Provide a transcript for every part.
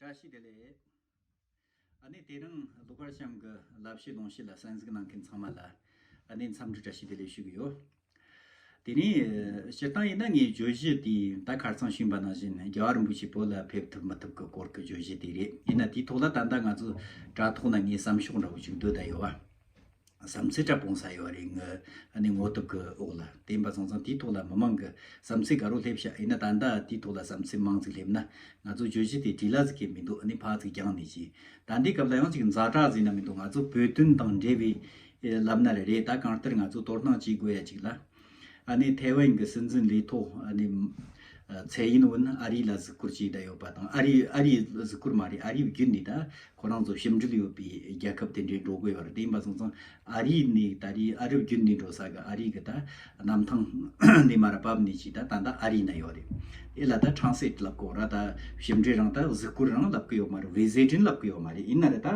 བཀྲ་ཤིས་བདེ་ལེགས། ཨ་ནེ་དེ་རིང་ལོ་ཀར་བྱམས་ཀྱི་ལབ་བཤད་ལུང་བཤད་ལ་གསན་གཟིགས་གནང་མཁན་ཚང་མ་ལ་ཨ་ནེའི་འཚམས་འདྲི་བཀྲ་ཤིས་བདེ་ལེགས་ཞུ་གི་ཡོད། དེ་རིང་སྤྱིར་བཏང་ཡིན་ན་ངའི་བརྗོད་གཞི་དེ་ད་གར་ཚང་བྱིངས་པ་ནང་བཞིན་རྒྱ་གར་རིན་པོ་ཆེ་བོད་ལ་ཕེབས་ཐུབ་མི་ཐུབ་ཀྱི་སྐོར་གྱི་བརྗོད་གཞི་དེ་རེད་ཡིན་ན་དེའི་ཐོག་ལ་ད་ལྟ་ང་ཚོ་དྲ་ཐོག་ན་ངའི་བསམ་ཤོག་འདྲ་བོ་ཅིག་སྡོད་ད་ཡོད། བསམ་ཚུལ་འདྲ་སྤུངས་ས་ཡོད་རེད་ངའི་ནི་ངོ་དུབ་ཀྱི་འོག་ལ་བསྟན་པ་ཚང་ཚང་དེའི་ཐོག་ལ་མི་མང་གི་བསམ་ཚུལ་ག་རུ་སླེབས་ཤག་ཡིན་ན་ད་ལྟ་དེའི་ཐོག་ལ་བསམ་ཚུལ་མང་ཙིག་སླེབས་ན་ང་ཚོ་བརྗོད་གཞི་དེ་དྲིས་ལ་ཟིག་གི་མི་འདུག་ནི་ཕག་ཚིག་རྒྱང་ནས་གྱིས་ད་ལྟའི་སྐབས་ལ་ཡང་ཅིག་འཛའ་དྲག་ཟིན་ན་མི་འདུག་ང་ཚོ་བོད་དོན་དང་འབྲེལ་བའི་ལབ་ན་ལ་རེད་ད་གང་ལྟར་ང་ཚོ་དོར་སྣང་བྱེད་དགོས་ཡ་ཅིག་ལ། ཐའེ་ཝན་གྱི་སྲིད་འཛིན་ལས་ཐོག་ཚའེ་ཡིན་ཝུན་ཨ་རི་ལ་གཟིགས་སྐོར་བྱས་བསྡད་ཡོད་པ་དང་ཨ་རི་ཨ་རིའི་གཟིགས་སྐོར་མ་རེད་ཨ་རིའི་བརྒྱུད་ནས་ད་ཁོ་རང་ཚོ་ཞིབ་འབྲུལ་ཡོད་པའི་རྒྱལ་ཁབ་དེ་འདྲའི་འགྲོ་དགོས་པ་རེད་དེ་ཡིན་པ་སོང་ཙང་ཨ་རི་ནས་ད་རེས་ཨ་རི་བརྒྱུད་འདི་འགྲོ་ས་གི་ཨ་རི་གི་ད་གནམ་ཐང་ནས་མར་བབས་ནས་ཀྱི་ད་ད་ལྟ་ཨ་རི་ན་ཡོད་རེད་དེ་ལ་ད་ཁྲང་སེད་ལབ་གོ་ར་ད་ཞིབ་འབྲུལ་རང་ད་གཟིགས་སྐོར་རང་ལབ་གི་ཡོད་མ་རེད་བི་ཟའི་དྲིན་ལབ་གི་ཡོད་མ་རེད་ཡིན་ན་རེད་ད།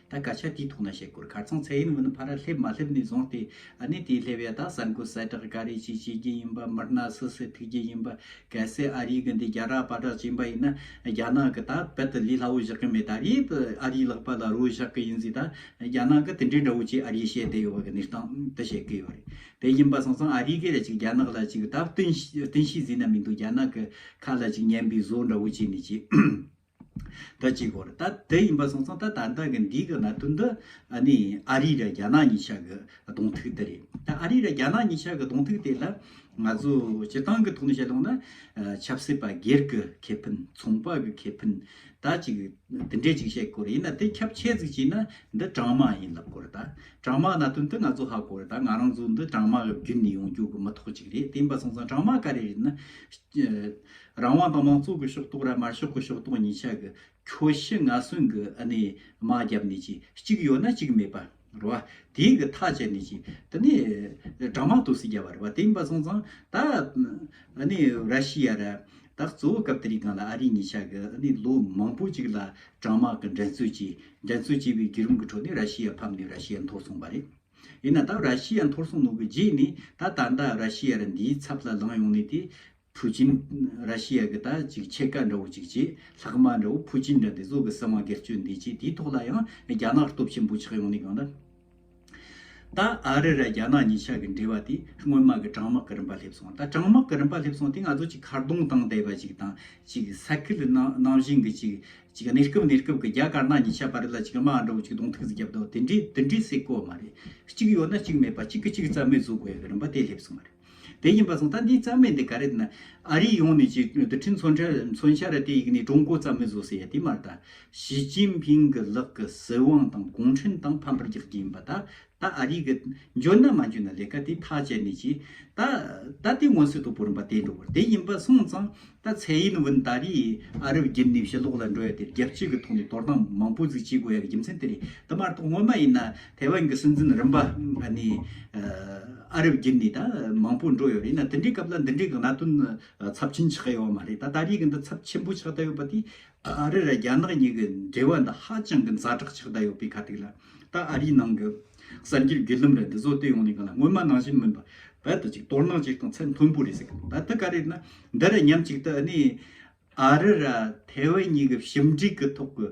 ད་སྐད་ཆ་དེའི་ཐོག་ན་བཤད་དགོས་གར་ཚང་ཚད་ཡིན་མིན་ཕར་སླེབས་མ་སླེབས་ནས་བཟུང་སྟེ་གནས་དེའི་སླེབས་ཡ་དག་གསར་འགོད་གསལ་བསྒྲགས་ག་རེ་བྱེད་བྱེད་ཀྱི་ཡིན་པ་མིར་ན་སུ་སུ་ཐུག་གི་ཡིན་པ་གལ་སྲིད་ཨ་རིའི་གི་འདི་རྒྱ་གྲགས་པ་གྲགས་ཅན་པ་ཡིན་ན་རྒྱ་ནག་གི་ད་རྦད་དེ་ལས་སླ་བོ་བཞག་གི་མེད་ད་རེད་ཨ་རིའི་ལག་པ་ལ་རོལ་བཞག་གི་ཡིན་ཟིག་ད་རྒྱ་ནག་གི་དེ་འདྲའི་འདྲ་བོ་ཅིག་ཨ་རིའི་བཤད་བསྡད་ཡོད་པ་གི་གནས་སྟངས་དེ་བཤད་གི་ཡོད་རེད་དེ་ཡིན་པ་སོང་ཙང་ཨ་རིའི་གི་ལ་ཅིག་རྒྱ་ནག་ལ་ཅིག་ད་བསྟུན་བསྟུན་ཤེས་ཟིན་ན་མི་འདུག་རྒྱ་ནག་གི་ཁ་ལ་ཅིག་ཉན་པའི་བཟོ་འདྲ་བོ་བྱས་ནས་ཅིག། ད་གཅིག་གོ་རེ་ད་དེ་ཡིན་པ་སོང་ཙང་ད་ད་ལྟ་གི་འདིའི་གི་གནད་དོན་འདི་ཨ་ནི་ཨ་རི་ར་རྒྱ་ནག་གཉིས་ཆགས་གི་གདོང་ཐུག་དེ་རེད་ད་ཨ་རི་ར་རྒྱ་ནག་གཉིས་ཆགས་གི་གདོང་ཐུག་དེ་ལ་ང་ཚོ་སྤྱི་བཏང་གི་ཐོག་ནས་བཤད་ལོང་ན་ཆབ་སྲིད་པ་སྒེར་གི་ཁེ་ཕན་ཚོང་པ་གི་ཁེ་ཕན་ད་གཅིག་དེ་འདྲས་ཅིག་བཤད་དགོས་རེད་ཡིན་ན་དེ་ཁྱབ་ཆེ་ཟིག་བྱས་ན་འདི་གྲང་དམག་ཡིན་ལབ་དགོས་རེད་ད་གྲང་དམག་གནད་དོན་འདི་ང་ཚོ་ཧ་གོ་རེད་ད་ང་རང་ཚོ་འདི་གྲང་དམག་གི་བརྒྱུད་ནས་ཡོང་རྒྱུ་གི་མི་ཐོག་ཅིག་རེད་དེ་ཡིན་པ་སོང་ཙང་གྲང་དམག་ག་རེ་རེད་ན། རང་དབང་དང་མང་གཙོ་གི་ཤོག་ཐོག་ར་མར་ཤོག་གི་ཤོག་ཐོག་གཉིས་ཆ་གི་ཁྱོ་ཤི་ང་གསུང་གི་ཨ་ནི་མ་རྒྱབ་ནས་ཀྱི་གཅིག་ཡོད་ན་གཅིག་མེད་པ་རུ་བ་དེའི་གི་ཐག་བཅད་ནས་ཀྱི་དེ་ནི་དྲང་མ་ཏུ་སི་རྒྱ་བ་རུ་བ་དེ་ཡིན་པ་སོང་ཙང་ད་ཨ་ནི་ར་ཤི་ཡ་ར་ད་གཙོ་བོ་སྐབས་དེ་རིང་གང་ལ་ཨ་རི་གཉིས་ཆ་གི་ཨ་ནི་ལོ་མང་པོ་གཅིག་ལ་དྲང་མ་གི་འགྲན་རྩོད་ཀྱི་འགྲན་རྩོད་ཀྱི་བའི་བརྒྱུད་རིམ་གི་ཁྲོད་ནས་ར་ཤི་ཡ་ཕམ་ནས་ར་ཤི་ཡ་འཐོར་སོང་བ་རེད། ཡིན་ན་ད་ར་ཤི་ཡ་འཐོར་སོང་ནོ་གི་རྗེས་ནས་ད་ད་ལྟ་ར་ཤི་ཡ་ར་འདིའི་ཚབ་ལ་ལངས་ཡོང་ནས་དེ་ཕུའུ་ཅིན། ར་ཤི་ཡ་གི་ད་ཅིག་ཕྱེད་ཀ་འདྲ་བོ་ཅིག་ཅེས་ལྷག་མ་འདྲ་བོ་ཕུའུ་ཅིན་འདྲ་འདི་བཟོ་གི་སེམས་དབང་སྒེར་གཅོད་འདི་ཅེས་དེའི་ཐོག་ལ་ཡང་རྒྱ་ནག་སྟོབས་ཆེན་པོ་ཆགས་ཡོང་ནི་གང་འདྲ། ད་ཨ་རི་ར་རྒྱ་ནག་གཉིས་ཆ་གི་འབྲེལ་བ་དེ་སྔོན་མ་གི་དྲང་དམག་གི་རིམ་པ་སླེབས་སོང་ད་དྲང་དམག་གི་རིམ་པ་སླེབས་སོང་དེ་ང་ཚོ་ཅིག་ཁ་རྡུང་བཏང་བསྡད་པ་ཅིག་དང་ཅིག་ས་ཁུལ་ནང་བཞིན་གྱི་ཅིག་ཅིག་གནས་སྐབས་གནས་སྐབས་གི་རྒྱ་དཀར་ནག་གཉིས་ཆ་བར་ལ་ཅིག་དམག་འདྲ་བོ་ཅིག་གདོང་ཐུག་བརྒྱབ་དོ་དེ་འདྲའི་དེ་འདྲའི་སྲིད་གོ་མ་རེད་གཅིག་ཡོད་ན་གཅིག་མེད་པ་གཅིག་གི་གཅིག་རྩ་མེད་བཟོ་དགོས་ཡོད་གི་རིམ་པ་དེ་སླེབས་སོང་བ་རེད། དེ་ཡིན་པ་སོང་ད་འདི་རྩ་མེད་འདི་ག་རེད་ན་ཨ་རི་ཡོང་ནས་ཅིག་ཏུ་ཁྲིམས་མཚོན་ཁྲལ་མཚོན་ཤ་ར་དེ་ཡིག་ནས་ཀྲུང་གོ་རྩ་མེད་བཟོ་ཟེར་ཡ་དེ་མ་རེད་ད་ཞི་ཅིན་ཕིང་གི་ལག་གི་སྲིད་དབང་དང་གུང་ཁྲན་ཏང་ཕམ་པར་རྒྱག་རྒྱུ་ཡིན་པ་ད་ད་ཨ་རི་གི་འཇོན་ན་མ་འཇོན་ན་ལས་ཀ་དེ་ཐག་བཅད་ནས་ཅིག་ད་ད་དེ་སྔོན་སྲིད་དུ་བུ་རུམ་པ་དེ་འགྲོ་དགོས་རེད་དེ་ཡིན་པ་སོང་ཙང་ད་ཚེ་ཡིན་བུན་ད་རེས་ཨ་རབ་བརྒྱུད་ནས་ཕྱི་ལོག་ལ་འགྲོ་ཡ་དེ་རྒྱལ་སྤྱི་གི་ཐོག་ནས་དོར་སྣང་མང་པོ་ཟིག་བྱེད་དགོས་ཡ་གི་རྒྱུ་མཚན་དེ་རེད་དེ་མ་རེད་ད་ངོ་མ་ཡིན་ན་ཐའེ་ཝན་གྱི་སྲིད་འཛིན་རིམ་པ་ནི་ཨ་རབ་བརྒྱུད་ནས་ད་མང་པོ་འགྲོ་ཡོད་རེད་ན་དེ་འདྲའི་སྐབས་ལ་འདི་འདྲའི་གནད་དོན་ཚབས་ཆེན་ཆགས་ཡོད་མ་རེད་ད་ད་རེས་ཀྱི་འདི་ཚབས་ཆེན་པོ་ཆགས་བསྡད་ཡོད་པ་དེ་ཨ་རི་ར་རྒྱ་ནག་གཉིས་ཀྱི་འབྲེལ་བ་འདི་ཧ་ཅང་གི་འཛའ་དྲག་ཆགས་བསྡད་ཡོད་པའི་ཁ་ཐིག་ལ་ད་ཨ་རིའི་ནང་གི་གསར་འགྱུར་བརྒྱུད་ལམ་ར་འདི་ཚོ་སྟོད་ཡོང་ནས་གང་ལ་སྔོན་མ་ནང་བཞིན་མིན་པ་རྦད་དེ་ཅིག་དོར་སྣང་ཅིག་དང་ཚད་མཐོན་པོ་རེད་ཟེར་གི་འདུག་ད་འདི་ག་རེད་ན་འདི་ར་ཉམས་ཅིག་ད་ནི་ཨ་རི་ར་ཐའེ་ཝན་གཉིས་ཀྱི་ཞིབ་འབྲེལ་གྱི་ཐོག་གི་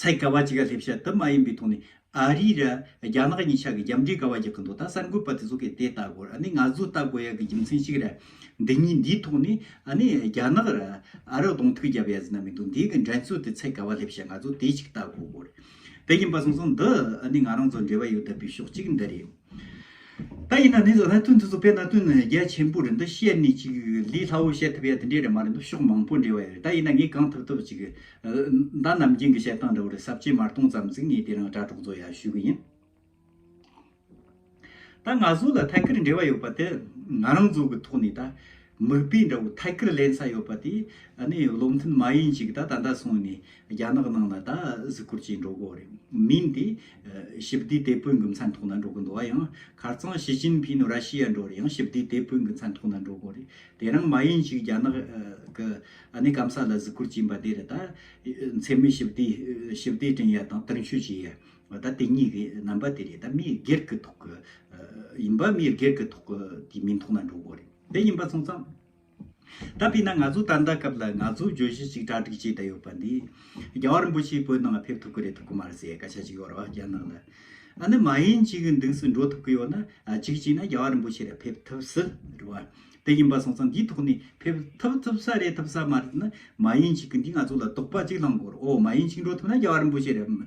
ཚད་ག་བ་ཅི་ག་སླེབས་བྱ་དུ་མ་ཡིན་པའི་ཐོག་ནས་ཨ་རི་ར་རྒྱ་ནག་གཉིས་ཆ་གི་རྒྱབ་འབྲེལ་ག་བ་རྒྱག་གི་འདུག་ད་གསར་འགོད་པ་དེ་ཚོ་གས་དེ་ལྟ་དགོས་ར་ནི་ང་ཚོས་ལྟ་དགོས་ཡག་གི་རྒྱུ་མཚན་ཞིག་ར་འདི་གཉིས་འདིའི་ཐོག་ནས་ཨ་ནི་རྒྱ་ནག་ར་ཨ་རག་གདོང་ཐུག་རྒྱབ་ཡ་ཟི་ན་མི་འདུག་འདི་གི་འགྲན་རྩོད་དེ་ཚད་ག་བ་སླེབས་བྱ་ང་ཚོས་དེ་ཞིག་ལྟ་དགོས་དགོས་ར་དེ་ཡིན་པ་སོང་སོང་འདི་ཨ་ནི་ང་རང་ཚོ་འབྲེལ་བ་ཡོད་ད་པའི་ཕྱོགས་གཅིག་འདི་རེད། ད་ཡིན་ན་ནི་ལྷ་མཐུ་འདི་ཚོ་དཔེར་ན་བསྟུན་ནས་རྒྱལ་ཆེན་པོ་རེད་འདོད་བཤད་ནི་ཅིག་ལི་ལྷ་བོ་བཤད་ཐུབ་ཡ་དེ་འདྲས་རེད་མ་རེད་འདོད་ཕྱོགས་མང་པོ་འདྲེ་བ་ཡ་རེད་ད་ཡིན་ན་ངས་གང་ཐུབ་ཐུབ་ཅིག་མདའ་ནམ་རྒྱུན་གྱི་བཤད་སྟངས་འདྲ་བོ་རེད་ཟབ་ཆེ་མར་གཏོང་ཙམ་ཚིག་ངས་དེ་རང་དྲ་གྲོགས་ཚོ་ཡར་ཞུས་གི་ཡིན། ད་ང་ཚོ་ལ་ཐད་ཀར་འབྲེལ་བ་ཡོད་པ་དེ་ང་རང་ཚོ་གི་ཐོག་ནས་ད་མིག་དཔེ་འདྲ་བོ་ཐད་ཀར་ལེན་ས་ཡོད་པ་དེ་ནི་བློ་མཐུན་མ་ཡིན་ཅིག་ད་ད་ལྟ་སོང་ནས་རྒྱ་ནག་ནང་ལ་ད་གཟིགས་སྐོར་བྱེད་འགྲོ་གོ་རེད་མིན་དེ། ཞི་བདེའི་དེད་དཔོན་གྱི་མཚན་ཐོག་ན་འགྲོ་གི་འདུག་བ་ཡང་ཁར་ཙང་ཞི་ཅིན་ཕིན་ར་ཤི་ཡ་འགྲོ་རེད་ཡང་ཞི་བདེའི་དེད་དཔོན་གྱི་མཚན་ཐོག་ན་འགྲོ་གོ་རེད་དེ་རང་མ་ཡིན་ཅིག་རྒྱ་ནག་གི་སྐམ་ས་ལ་གཟིགས་སྐོར་བྱིན་པ་དེར་ད་འཚེ་མེད་ཞི་བདེ་ཞི་བདེ་དྲན་ཡ་དང་དུར་མཆོད་བྱེད་ཡ་ད་དེ་གཉིས་ཀྱི་རྣམ་པ་དེ་རེད་ད་མིའི་སྒེར་གྱི་ཐོག་གི་ཡིན་པ་མིའི་སྒེར་གྱི་ཐོག་གི་དེ་མིན་ཐོག་ན་འགྲོ་གོ་རེད། འདི་ཡིན་པ་མཚུངས་སམ། ད་དཔེར་ན་ང་ཚོ་ད་ལྟ་སྐབས་ལ་ང་ཚོ་བརྗོད་གཞི་གཅིག་གྲ་སྒྲིག་བྱས་བསྡད་ཡོད་པ་འདི། རྒྱ་བ་རིན་པོ་ཆེའི་བོད་ནང་ལ་ཕེབས་ཐུབ་ཀི་རེད་ཐུབ་ཀི་མ་རེད་ཟེར་བའི་སྐད་ཆ་གཅིག་ཡོད་རེད་བ་རྒྱ་ནག་ལ། ཨ་ནི་མ་ཡིན་གཅིག་གི་མདུན་སུ་འགྲོ་ཐུབ་ཀི་ཡོད་ན་གཅིག་གཅིག་ན་རྒྱ་བ་རིན་པོ་ཆེ་རེད་ཕེབས་ཐུབ་སྲིད་རེད་བ། དེ་ཡིན་པ་མཚུངས་སམ་འདིའི་ཐོག་ནས་ཕེབས་ཐུབ་ཐུབ་ས་རེད་ཐུབ་ས་མ་རེད་ན་མ་ཡིན་གཅིག་གི་འདི་ང་ཚོ་ལ་དོགས་པ་གཅིག་ལངས་དགོས་རེད་ཨོ་མ་ཡིན་གཅིག་འགྲོ་ཐུབ་ན་རྒྱ་བ་རིན་པོ་ཆེ་རེད།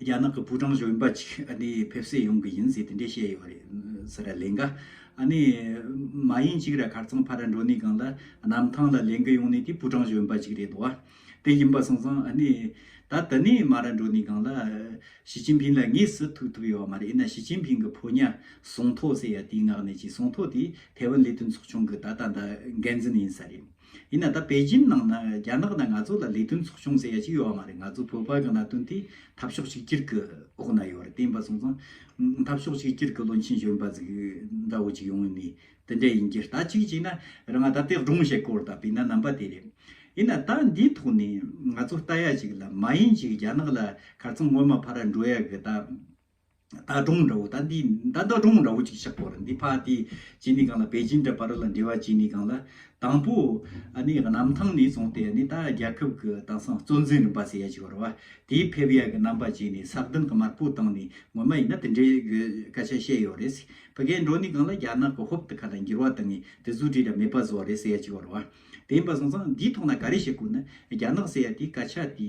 རྒྱ་ནག་གི་པུའུ་ཀྲང་གཞོན་པ་གཅིག་ཕེབས་སད་ཡོང་གི་ཡིན་ཟེར་དེ་འདྲས་བཤད་ཡོད་རེད་ཟེར་ར་ལན་ག། མ་ཡིན་གཅིག་ར་གར་ཚང་ཕ་ར་འགྲོ་ནི་གང་ལ་གནམ་ཐང་ལ་ལན་གི་ཡོང་ནི་དེ་པུའུ་ཀྲང་གཞོན་པ་གཅིག་རེད་དོ། དེ་ཡིན་པ་སོང་ཙང་ད་དི་ནི་མ་ར་འགྲོ་ནི་གང་ལ་ཞི་ཅིན་ཕིན་ལ་ངས་སུ་ཐུག་ཐུབ་ཡོད་བ་མ་རེད་ཡིན་ན་ཞི་ཅིན་ཕིན་གི་ཕོ་ཉ་སོང་ཐོ་ཟེར་ཡ་དེའི་ངག་ནས་ཅིག་སོང་ཐོ་དེ་ཐའེ་ཝན་ལས་དོན་ཚོགས་ཆུང་གི་ད་ལྟ་འདའ་འགན་འཛིན་ཡིན་ས་རེད། ཡིན་ན་ད་པེ་ཅིན་ནང་ན་རྒྱ་ནག་ནས་ང་ཚོ་ལ་ལས་དོན་ཚོགས་ཆུང་ཟེར་ཡ་ཅིག་ཡོད་བ་མ་རེད་ང་ཚོ་བོད་པ་གི་གནད་དོན་དེ་འཐབ་ཕྱོགས་གཅིག་གྱུར་གི་འོག་ན་ཡོད་རེད་དེ་ཡིན་པ་སོང་ཙང་འཐབ་ཕྱོགས་གཅིག་གྱུར་གི་བློན་ཆེན་གཞོན་པ་གཟིག་འདྲ་བོ་ཅིག་ཡོང་ངེས་མེད་དེ་འདྲ་ཡིན་རྒྱུ་ད་གཅིག་གཅིག་ན་རང་ང་ད་དེ་སྒྲུང་བཤད་སྐོར་ད་བེད་ན་རྣམ་པ་དེ་རེད་ཡིན་ན་ད་འདིའི་ཐོག་ནས་ང་ཚོ་ལྟ་ཡ་ཅིག་ལ་མ་ཡིན་ཅིག་རྒྱ་ནག་ལ་གར་ཚང་སྔོན་མ་ཕ་ར་འགྲོ་ཡ་གི་ད། ད་དུང་འདྲ་བོ་ད་འདི་ད་ད་དུང་འདྲ་བོ་ཅིག་ཤག་པོ་རེད་འདི་ཕ་དེ་གཅིག་ནི་གང་ལ་པེ་ཅིན་འདྲ་པ་རི་ལ་འདྲི་བ་གཅིག་ནི་གང་ལ་དང་པོ་ཨ་ནི་གནམ་ཐང་ནས་བཙོང་སྟེ་ཨ་ནི་ད་རྒྱལ་ཁབ་ཀྱི་དེང་སང་གཙོ་འཛིན་རིམ་པ་ཟེར་ཡ་ཅིག་བར་བ་དེའི་ཕེབས་ཡ་གི་རྣམ་པ་བྱས་ནས་ས་བདུན་གྱི་དམར་པོ་བཏང་ནས་ངོ་མ་ཡིན་ན་དེ་འདྲའི་གི་སྐད་ཆ་བཤད་ཡོད་རེད་ཕི་གའི་འགྲོ་ནི་གང་ལ་རྒྱ་ནག་གི་ཧོབ་ཏུ་ཁ་ལ་འགྱུར་བ་དང་དེ་ཟུ་བྲིས་ར་མེད་པ་བཟོ་རེད་ཟེར་ཡ་ཅིག་བར་བ་དེ་ཡིན་པ་སོང་ཙང་འདིའི་ཐོག་ན་ག་རེ་བཤད་དགོས་ན་རྒྱ་ནག་ཟེར་ཡ་དེའི་སྐད་ཆ་དེ་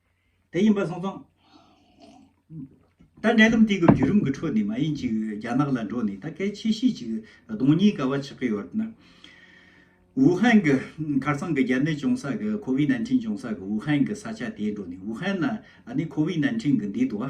དེ་ཡིན་པ་སོང་སོང། ད་འབྲལ་ལམ་སྟེགས་ཀྱི་བརྒྱུད་རིམ་གྱི་འཕྲོ་འདི་མ་ཡིན་ཅིག་རྒྱ་ནག་ལ་འགྲོ་ནས་ད་སྐད་ཆེ་བཤད་ཅིག་གདོང་གཉིས་ཀ་བ་ཆགས་ཀྱི་ཡོད་ན། ཝུ་ཧན་གྱི་ཁར་སང་གི་རྒྱ་ནད་བྱུང་ས་གི་ཁོ་བིས་ནན་ཁྲིན་བྱུང་ས་གི་ཝུ་ཧན་གྱི་ས་ཆ་དེ་འགྲོ་ནས་ཝུ་ཧན་ན་ཨ་ནི་ཁོ་བིས་ནན་ཁྲིན་གྱི་འདི་དུ་བ།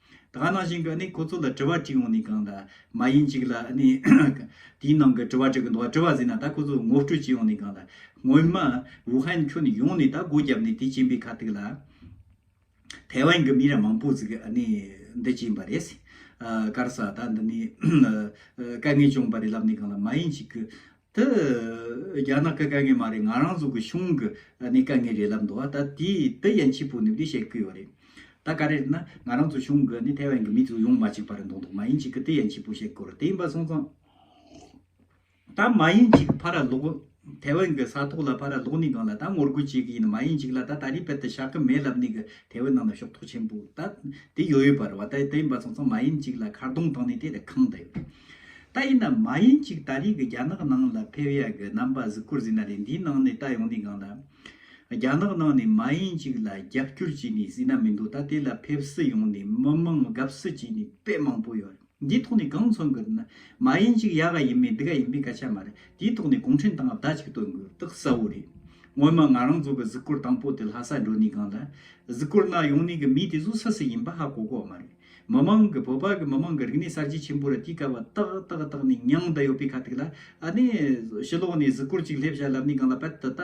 དགའ་སྣང་ཞིང་གི་ནི་ཁོ་ཚོ་ལ་དྲི་བ་གཅིག་འོང་ནས་གང་ལ་མ་ཡིན་གཅིག་ལ་ནི། དེའི་ནང་གི་དྲི་བ་གཅིག་གི་འདུག་དྲི་བ་ཟིན་ན་ད་ཁོ་ཚོ་ངོ་སྤྲོད་གཅིག་འོང་ནས་གང་ལ། སྔོན་མ་ཝུ་ཧན་ཁྱོན་ཡོངས་ནས་ད་སྒོ་བརྒྱབ་ནས་དེ་བྱིན་པའི་ཁ་ཐུག་ལ། ཐའེ་ཝན་གྱི་མི་ར་མང་པོ་ཟིག་གི་ནི་འདི་བྱིན་པ་རེད། སྐར་ས་ད་འདི་ནི་དཀའ་ངལ་བྱུང་བ་རེད་ལབ་ནས་གང་ལ་མ་ཡིན་གཅིག་གི། དེ་རྒྱ་ནག་གི་དཀའ་ངལ་མ་རེད་ང་རང་ཚོ་གི་གཞུང་གི་ནི་དཀའ་ངལ་རེད་ལབ་འདུག་བ་ད་དེ་དེ་ཡན་ཆིས་པོ་ནི་བདེ་བཤད་ཀི་ཡོད་རེད་ད་ག་རེ་རེད་ན་ང་རང་ཚོ་གཞུང་གི་ནི་ཐའེ་ཝན་གི་མི་ཚོ་ཡོང་མ་ཅིག་པ་རེད་འདུག་འདུག་མ་ཡིན་ཅིག་གི་དེ་ཡན་ཆིས་པོ་བཤད་དགོས་རེད་དེ་ཡིན་པ་སོང་ཙང་ད་མ་ཡིན་ཅིག་གི་ཕ་ར་ལོག་ཐའེ་ཝན་གི་ས་ཐོག་ལ་ཕ་ར་ལོག་ནི་གང་ལ་ད་ངོ་རྒོལ་བྱེད་གི་ཡིན་མ་ཡིན་ཅིག་ལ་ད་ད་རི་བལ་དུ་བཞག་གི་མེད་ལབ་ནི་གི་ཐའེ་ཝན་ནང་ལ་ཤོག་ཐོག་ཆེན་པོ་ད་དེ་ཡོད་ཡོད་པ་རེད་བ་ད་དེ་ཡིན་པ་སོང་ཙང་མ་ཡིན་ཅིག་ལ་མཁར་རྡུང་བཏང་ནི་དེ་རེད་ཁང་ད་ཡོད་རེད། ད་ཡིན་ནམ་མ་ཡིན་གཅིག་ད་རེས་ཀྱི་རྒྱ་ནག་ནང་ལ་ཕེབས་ཡ་གི་རྣམ་པ་གཟིགས་སྐོར་གཟིགས་ན་ལེ་འདིའི་ནང་ནས་ད་ཡོང་དུས་གང་ལ་རྒྱ་ནག་ནང་ནས་མ་ཡིན་གཅིག་ལ་རྒྱབ་སྐྱོར་བྱས་ནས་གཟིགས་ན་མི་འདུག་ད་དེ་ལ་ཕེབས་སུ་ཡོང་ནས་མི་དམངས་དགའ་བསུ་བྱས་ནས་དཔེ་མང་པོ་ཡོད་འདིའི་ཐོག་ནས་གང་མཚོན་གི་རེད་ན་མ་ཡིན་གཅིག་ཡ་ག་ཡིན་མིན་འདི་ག་ཡིན་མིན་སྐད་ཆ་མ་རེད་དེའི་ཐོག་ནས་གུང་ཁྲན་ཏང་ཨབ་ད་གཅིག་བཏོན་དགོས་རྟགས་གསལ་བོ་རེད་སྔོན་མ་ང་རང་ཚོ་གི་གཟིགས་སྐོར་དང་པོ་དེ་ལྷ་ས་འགྲོ་ནས་གང་ལ་གཟིགས་སྐོར་གནང་ཡོང་ནས་གི་མི་དེ་ཚོ་སུ་སུ་ཡིན་པ་ཧ་གོ་གོ་བ་མ་རེད། མི་དམངས་ཀྱི་བོད་པ་གི་མི་དམངས་ཀྱི་རིག་གནས་གསར་བརྗེ་ཆེན་པོ་རུ་དུས་སྐབས་བ་ཏག་ཏག་དག་ནི་མྱང་དང་ཡོད་པའི་ཁ་ཐུག་ལ་ཨ་ནི་ཕྱི་ལོགས་ནས་གཟིགས་སྐོར་ཅིག་སླེབས་བྱ་ལབ་ནས་སྒང་ལ་བལ་དུ་ད་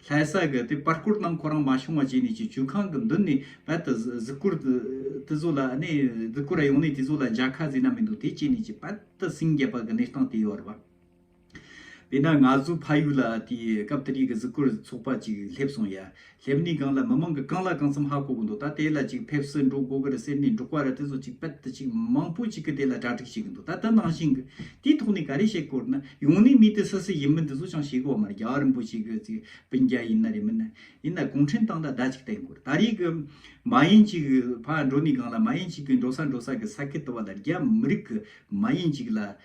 ལྷའི་ས་གི་དེ་པར་སྐོར་ནང་ཁོ་རང་མ་ཤོང་བ་བྱས་ནས་ཀྱི་ཇུས་ཁང་གི་མདུན་ནས་བལ་དུ་གཟིགས་སྐོར་དེ་ཚོ་ལ་ཨ་ནི་གཟིགས་སྐོར་ར་ཡོང་ནས་དེ་ཚོ་ལ་འཇག་ཁ་བཟས་ན་མི་འདུག་དེ་བྱས་ནས་ཀྱི་བལ་དུ་སིང་རྒྱ་པ་གི་གནས་སྟངས་དེ་ཡོད་ར་བ། དེས་ན་ང་ཚོའི་ཕ་ཡུལ་ལ་དེའི་སྐབས་ཏཱ་རིའི་གཟིགས་སྐོར་ཚོགས་པ་ཅིག་སླེབས་སོང་ཡ། སླེབས་ནས་སྒང་ལ་མི་མང་གི་རྐང་ལག་གང་འཚམ་ཧ་གོ་གི་འདུག་ད་དེ་ལ་ཅིག་ཕེབས་སུ་འགྲོ་དགོས་ཀི་རེད་ཟེར་ནས་འབྲོག་པ་ར་དེ་ཚོ་ཅིག་དཔལ་དུ་ཅིག་མང་པོ་ཅིག་གི་དེ་ལ་གྲ་སྒྲིག་བྱེད་གི་འདུག་ད་དེ་ནང་བཞིན་གི་དེའི་ཐོག་ནས་ག་རེ་བཤད་དཀོར་ན་ཡོང་ནས་མི་དེ་སུ་སུ་ཡིན་མིན་དེ་ཚོ་ཅང་ཤེས་གི་བ་མ་རེད་རྒྱ་རིན་པོ་ཆེ་གི་ཅིག་བིན་རྒྱ་ཡིན་ན་རེད་མིན་ན་ཡིན་ན་གུང་ཁྲན་ཏང་ལ་བརྡ་ཅིག་བསྟན་དགོས་ད་རེས་གི་མ་ཡིན་ཅིག་གི་ཕ་འགྲོ་ནས་སྒང་ལ་མ་ཡིན་ཅིག་གི་འགྲོ་ས་འགྲོ་ས་གི་ས་ཁུལ་དུ་བ་ལ་རྒྱ་མི་རིགས་གི་མ་ཡིན་ཅིག་ལ་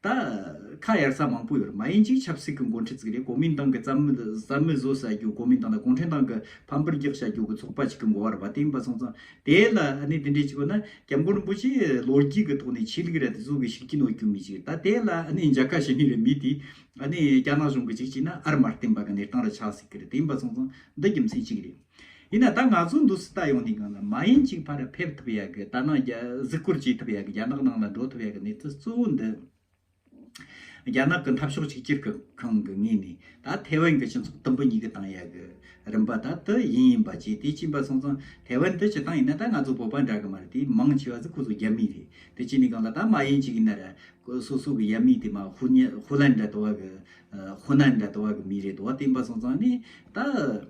ད་ཁ་གཡར་ས་མང་པོ་ཡོད་མ་ཡིན་ཅིག་ཆབ་སྲིད་ཀྱི་འགོ་འཁྲིད་ཙིག་རེད་གོ་མིན་ཏང་གི་རྩ་མི་བཟོ་བྱ་རྒྱུ་གོ་མིན་ཏང་དང་གུང་ཁྲན་ཏང་གི་ཕམ་པར་རྒྱག་བྱ་རྒྱུ་གི་ཚོགས་པ་ཅིག་གི་འགོ་བར་བ་དེ་ཡིན་པ་སོང་ཙང་དེ་ལ་ནི་དེ་འདྲས་ཅིག་གོ་ན་སྐྱབས་མགོན་རིན་པོ་ཆེ་ལོ་རྒྱུས་ཀྱི་ཐོག་ནས་ཆོས་ལུགས་ར་དེ་ཟུག་གི་ཤུགས་རྐྱེན་འོག་གྱུར་མི་ཅིག་ད་དེ་ལ་ནི་མཇའ་ཁ་ཞེ་ནུས་རེད་མི་དེ་ནི་རྒྱ་ནག་གཞུང་གི་ཅིག་ཅིག་ན་ཨར་མར་བསྟན་པ་གི་གནས་སྟངས་ར་ཆགས་སྲིད་ཀྱི་རེད་དེ་ཡིན་པ་སོང་ཙང་འདི་རྒྱུ་མཚན་ཅིག་རེད། ཡིན་ན་ད་ང་ཚོ་འདུག་སྲིད་ད་ཡོང་ནས་གང་ལ་མ་ཡིན་གཅིག་ཕར་ར་ཕེབས་ཐུབ་ཡ་གི་ད་ནང་གཟིགས་བསྐོར་བྱེད་ཐུབ་ཡ་གི་རྒྱ་ནག་ནང་ལ་འགྲོ་ཐུབ་ཡ་གི་གནས་ཚུལ་གཙོ་བོ་འདི་རྒྱ་ནག་གི་འཐབ་ཕྱོགས་གཅིག་གྱུར་གི་ཁང་གི་ངོས་ནས་ད་ཐེ་ཝན་གྱི་སྤྱི་ཚོགས་དུམ་བུ་གཉིས་ཀྱི་ཏང་ཡ་གི་རིམ་པ་ད་དུ་ཡིན་ཡིན་པ་བྱས་དེ་གཅིན་པ་སོང་ཙང་ཐེ་ཝན་དུ་སྤྱི་ཏང་ཡིན་ན་ད་ང་ཚོ་བོད་པ་འདྲ་གི་མ་རེད་དེ་མང་ཆེ་བ་ཟིག་ཁོ་ཚོ་རྒྱ་མི་རེད་དེ་གཅིག་ནས་གང་ལ་ད་མ་ཡིན་གཅིག་ཡིན་ན་ར་སོ་སོ་གི་ཡ་མི་དེ་མ་ཧུ་ནན་འདྲ་དོ་བ་གི་ཧུ་ནན་འདྲ་དོ་བ་གི་མི་རེད་དོ་བ་བསྟན་པ་སོང་ཙང་ནས་ད།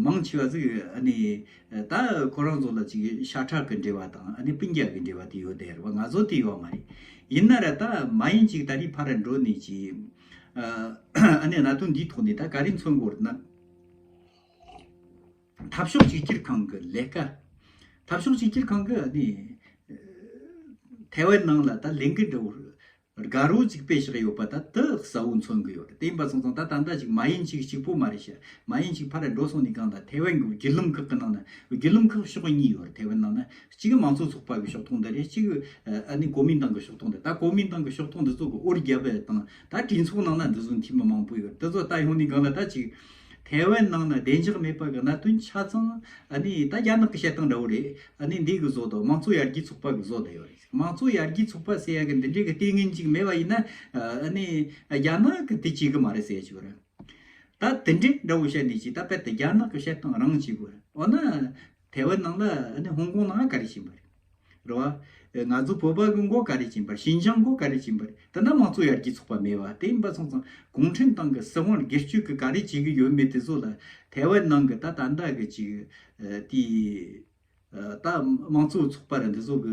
མང་ཆེ་བ་ཟིག་ཨ་ནི། ད་ཁོ་རང་ཚོ་ལ་ཅིག་ཤ་ཁྲག་གི་འབྲེལ་བ་དང་ཨ་ནི་སྤུན་རྒྱག་གི་འབྲེལ་བ་དེ་ཡོད་དེ་རེད་བ་ང་ཚོ་དེ་ཡོད་མ་རེད། ཡིན་ན་ར་ད་མ་ཡིན་ཅིག་ད་རི་ཕ་ར་འགྲོ་ནི་ཅིག། ཨ་ནི་ན་དུང་འདིའི་ཐོག་ནས་ད་ག་རི་མཚོན་སྐོར་ན། འཐབ་ཕྱོགས་གཅིག་གྱུར་ཁང་གི་ལས་ཀ། འཐབ་ཕྱོགས་གཅིག་གྱུར་ཁང་གི་ཨ་ནི། ཐའེ་ཝན་ནང་ལ་ད་ལས་འགུལ་འགྲོ། དགའ་རོ་གཅིག་པའི་ཞག་ཡོད་པ་ད་དུ་གསལ་བོ་མཚོན་གི་ཡོད་རེད་དེ་ཡིན་པ་ཚང་ཚང་ད་ད་ལྟ་ཞིག་མ་ཡིན་ཞིག་གཅིག་པོ་མ་རེད་ཤི་མ་ཡིན་ཞིག་ཕར་རེད་འགྲོ་སོང་ནི་གང་དང་ཐའེ་ཝན་གྱི་བརྒྱུད་ལམ་ཁག་གི་ནང་ན་བརྒྱུད་ལམ་ཁག་ཕྱོགས་གཉིས་ཡོད་རེད་ཐའེ་ཝན་ནང་ན་གཅིག་མང་གཙོ་ཚོགས་པ་གི་ཕྱོགས་ཐོག་འདི་རེད་གཅིག་ཨ་ནི་གོ་མིན་ཏང་གི་ཕྱོགས་ཐོག་འདི་ད་གོ་མིན་ཏང་གི་ཕྱོགས་ཐོག་འདི་ཚོ་གི་ཨོ་རི་རྒྱ་བལ་ཏང་ད་གྲོས་ཚོགས་ནང་ན་འདི་ཚོ་འཐུས་མི་མང་པོ་ཡོད་རེད་འདི་ཚོ་ད་ཡོང་ནི་གང་ལ་ད་གཅིག་ཐའེ་ཝན་ནང་ན་བདེ་འཇགས་མེད་པ་གི་གནད་དོན་ཆ་ཚང་ཨ་ནི་ད་རྒྱ་ནག་གི་བྱེད་སྟངས་འདྲ་བོ་རེད་ཨ་ནི་འདི་གི་བཟོ་དང་མང་གཙོ་ཡར་རྒྱས་ཚོགས་པ་གི་བཟོ་འདི་ཡོད་རེད། མང་གཙོ་ཡར་རྒྱས་ཚོགས་པ་ཟེར་ཡ་གི་འདི་འདྲའི་གི་ལྟས་ངན་ཅིག་མེད་པ་ཡིན་ན་ནི་རྒྱ་ནག་གི་དེ་བྱེད་གི་མ་རེད་ཟེར་ཅིག་གོ་ར། ད་དེ་འདྲའི་འདྲ་བོ་བཤད་འདི་ཅིག་ད་དཔེར་ད་རྒྱ་ནག་གི་བཤད་སྟངས་རང་ཅིག་གོ་ར། འོ་ན་ཐའེ་ཝན་ནང་ལ་ནི་ཧོང་ཀོང་ནང་ག་རེ་བྱིན་པ་རེད། རེད་བ། ང་ཚོ་བོད་པ་གི་མགོ་ག་རེ་བྱིན་པ་རེད་ཞིན་ཅང་མགོ་ག་རེ་བྱིན་པ་རེད་ད་ནི་མང་གཙོ་ཡར་རྒྱས་ཚོགས་པ་མེད་བ་དེ་ཡིན་པ་སོང་ཙང་གུང་ཁྲན་ཏང་གི་སྲིད་དབང་སྒེར་སྤྱོད་གི་ག་རེ་བྱེད་གི་ཡོད་མེད་དེ་ཚོ་ལ་ཐའེ་ཝན་ནང་གི་ད་ད་འདྲ་གི་ཅིག་དེའི། ད་དམངས་གཙོའི་ཚོགས་པ་རེད་འདི་ཚོ་གི་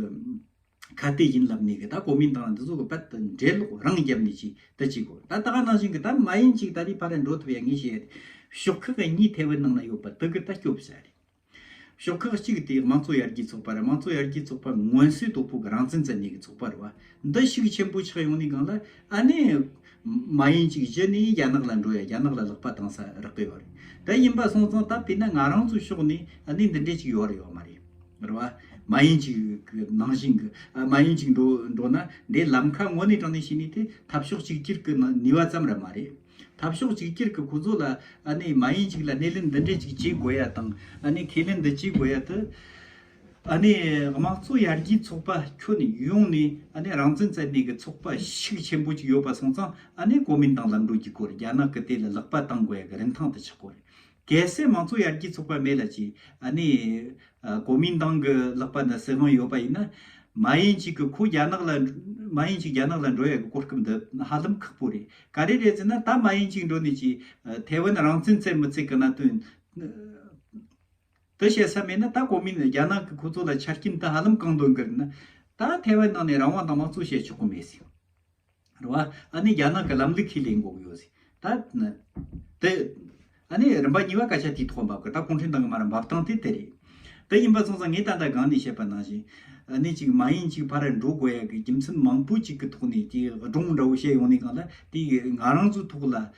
ཁ་གཏད་ཡིན་ལབ་ནས་གི་ད་གོ་མིན་ཏང་འདི་ཚོ་གི་དཔལ་དུ་འགྲེལ་ལོག་རང་རྒྱབ་ནས་ཅིག་ད་ཅིག་གོ་ད་ད་ག་ནང་བཞིན་གི་ད་མ་ཡིན་ཅིག་ད་དེའི་ཕ་ར་འགྲོ་ཐུབ་ཡ་ངས་བཤད་ཤོག་ཁག་གཉིས་ཐའེ་ཝན་ནང་ན་ཡོད་པ་དེ་གི་ད་སྐྱོབ་བྱ་རེད་ཤོག་ཁག་གཅིག་དེ་དམངས་གཙོ་ཡར་རྒྱས་ཚོགས་པ་རེད་དམངས་གཙོ་ཡར་རྒྱས་ཚོགས་པ་མངོན་གསལ་དོད་པོ་གི་རང་བཙན་བཙན་ནས་གི་ཚོགས་པ་རེད་བ་འདི་ཤུགས་ཆེན་པོ་ཆགས་ཡོང་ནས་གང་ལ་ཨ་ནེ། མ་ཡིན་ཅིག་གཞི་ནས་རྒྱ་ནག་ལ་འགྲོ་ཡ་རྒྱ་ནག་ལ་ལག་པ་བཏང་ས་རག་གི་ཡོད་རེད་དེ་ཡིན་པ་སོང་ཙང་ད་བལྟས་ན་ང་རང་ཚོའི་ཕྱོགས་ནས་ཨ་ནེ་འདི་འདྲས་ཅིག་ཡོད་རེད་ཡོད་མ་རེད་རེད་བ། མ་ཡིན་ཅིག་གི་ནང་བཞིན་གི་མ་ཡིན་ཅིག་འགྲོ་ན་འདྲས་ལམ་ཁ་ངོ་ནས་དྲང་ནས་ཤི་ནས་དེ་འཐབ་ཕྱོགས་གཅིག་གྱུར་གི་ནུས་བ་ཙམ་ར་མ་རེད། འཐབ་ཕྱོགས་གཅིག་གྱུར་གི་ཁོ་ཚོ་ལ་ཨ་ནེ་མ་ཡིན་ཅིག་ལ་སྣེ་ལེན་འདི་འདྲས་ཅིག་བྱེད་དགོས་ཡ་དང་ཨ་ནེ་ཁས་ལེན་འདི་བྱེད་དགོས་ཡ་དེ། ཨ་ནི་དམངས་གཙོ་ཡར་རྒྱས་ཚོགས་པ་ཁྱོན་ཡོངས་ནས་ཨ་ནི་རང་བཙན་བཙན་གནས་ཀྱི་ཚོགས་པ་ཤུགས་ཆེན་པོ་ཅིག་ཡོད་པ་སོང་ཙང་ཨ་ནི་གོ་མིན་ཏང་ལམ་གྲོས་ཀྱི་སྐོར་རྒྱ་ནག་གི་དེ་ལ་ལག་པ་བཏང་དགོས་ཀྱི་རིན་ཐང་དུ་ཆགས་དགོས། གལ་སྲིད་དམངས་གཙོ་ཡར་རྒྱས་ཚོགས་པ་མེད་ལ་ཅི་ཨ་ནི་གོ་མིན་ཏང་གི་ལག་པ་ན་སྲིད་དབང་ཡོད་པ་ཡིན་ན། མ་ཡིན་ཅིག་གི་ཁོ་རྒྱ་ནག་ལ་མ་ཡིན་ཅིག་རྒྱ་ནག་ལ་འགྲོ་ཡག་གི་གོ་སྐབས་འདི་ཧ་ལམ་ཁག་པོ་རེད་ག་རེ་རེད་ཟེར་ན་ད་མ་ཡིན་ཅིག་འགྲོ་ནས་ཅིག་ཐའེ་ཝན་རང་བཙན་བཙལ་མི་བཙལ་གི་གནད་དོན། དེ་བཤད་ས་མེད་ན་ད་གོ་མིན་རྒྱ་ནག་གི་ཁོ་ཚོ་ལ་ཆ་རྐྱེན་ད་ཧ་ལམ་གང་འདོད་འགེལ་ན། ད་ཐེ་ཝན་ནང་ནས་རང་དབང་དང་དམངས་གཙོ་བྱེད་ཆོག་གི་མེད་ཟེར། རེད་བ། ཨ་ནི་རྒྱ་ནག་གི་ལམ་ལུགས་ཁས་ལེན་དགོ་གི་ཡོད་ཟེར། ད། དེ། ཨ་ནི་རིམ་པ་གཉིས་པ་སྐད་ཆ་དེའི་ཐོག་འབབ་གི་ད་གུང་ཁྲན་ཏང་གི་མ་ར་འབབ་སྟངས་དེ་དེ་རེད། དེ་ཡིན་པ་སོང་ཙང་ངས་ད་ལྟ་སྒང་ནས་བཤད་པ་ནང་བཞིན། ཨ་ནི་ཅིག་མ་ཡིན་ཅིག་ཕ་ར་འགྲོ་དགོ་ཡག་གི་རྒྱུ་མཚན་མང་པོ་ཅིག་གི་ཐོག་ནས་དེ་སྒྲུང་འདྲ་བོ་བཤད་ཡོང་ནས་གང་ལ་དེ་ང་རང་ཚོའི་ཐོག་ལ་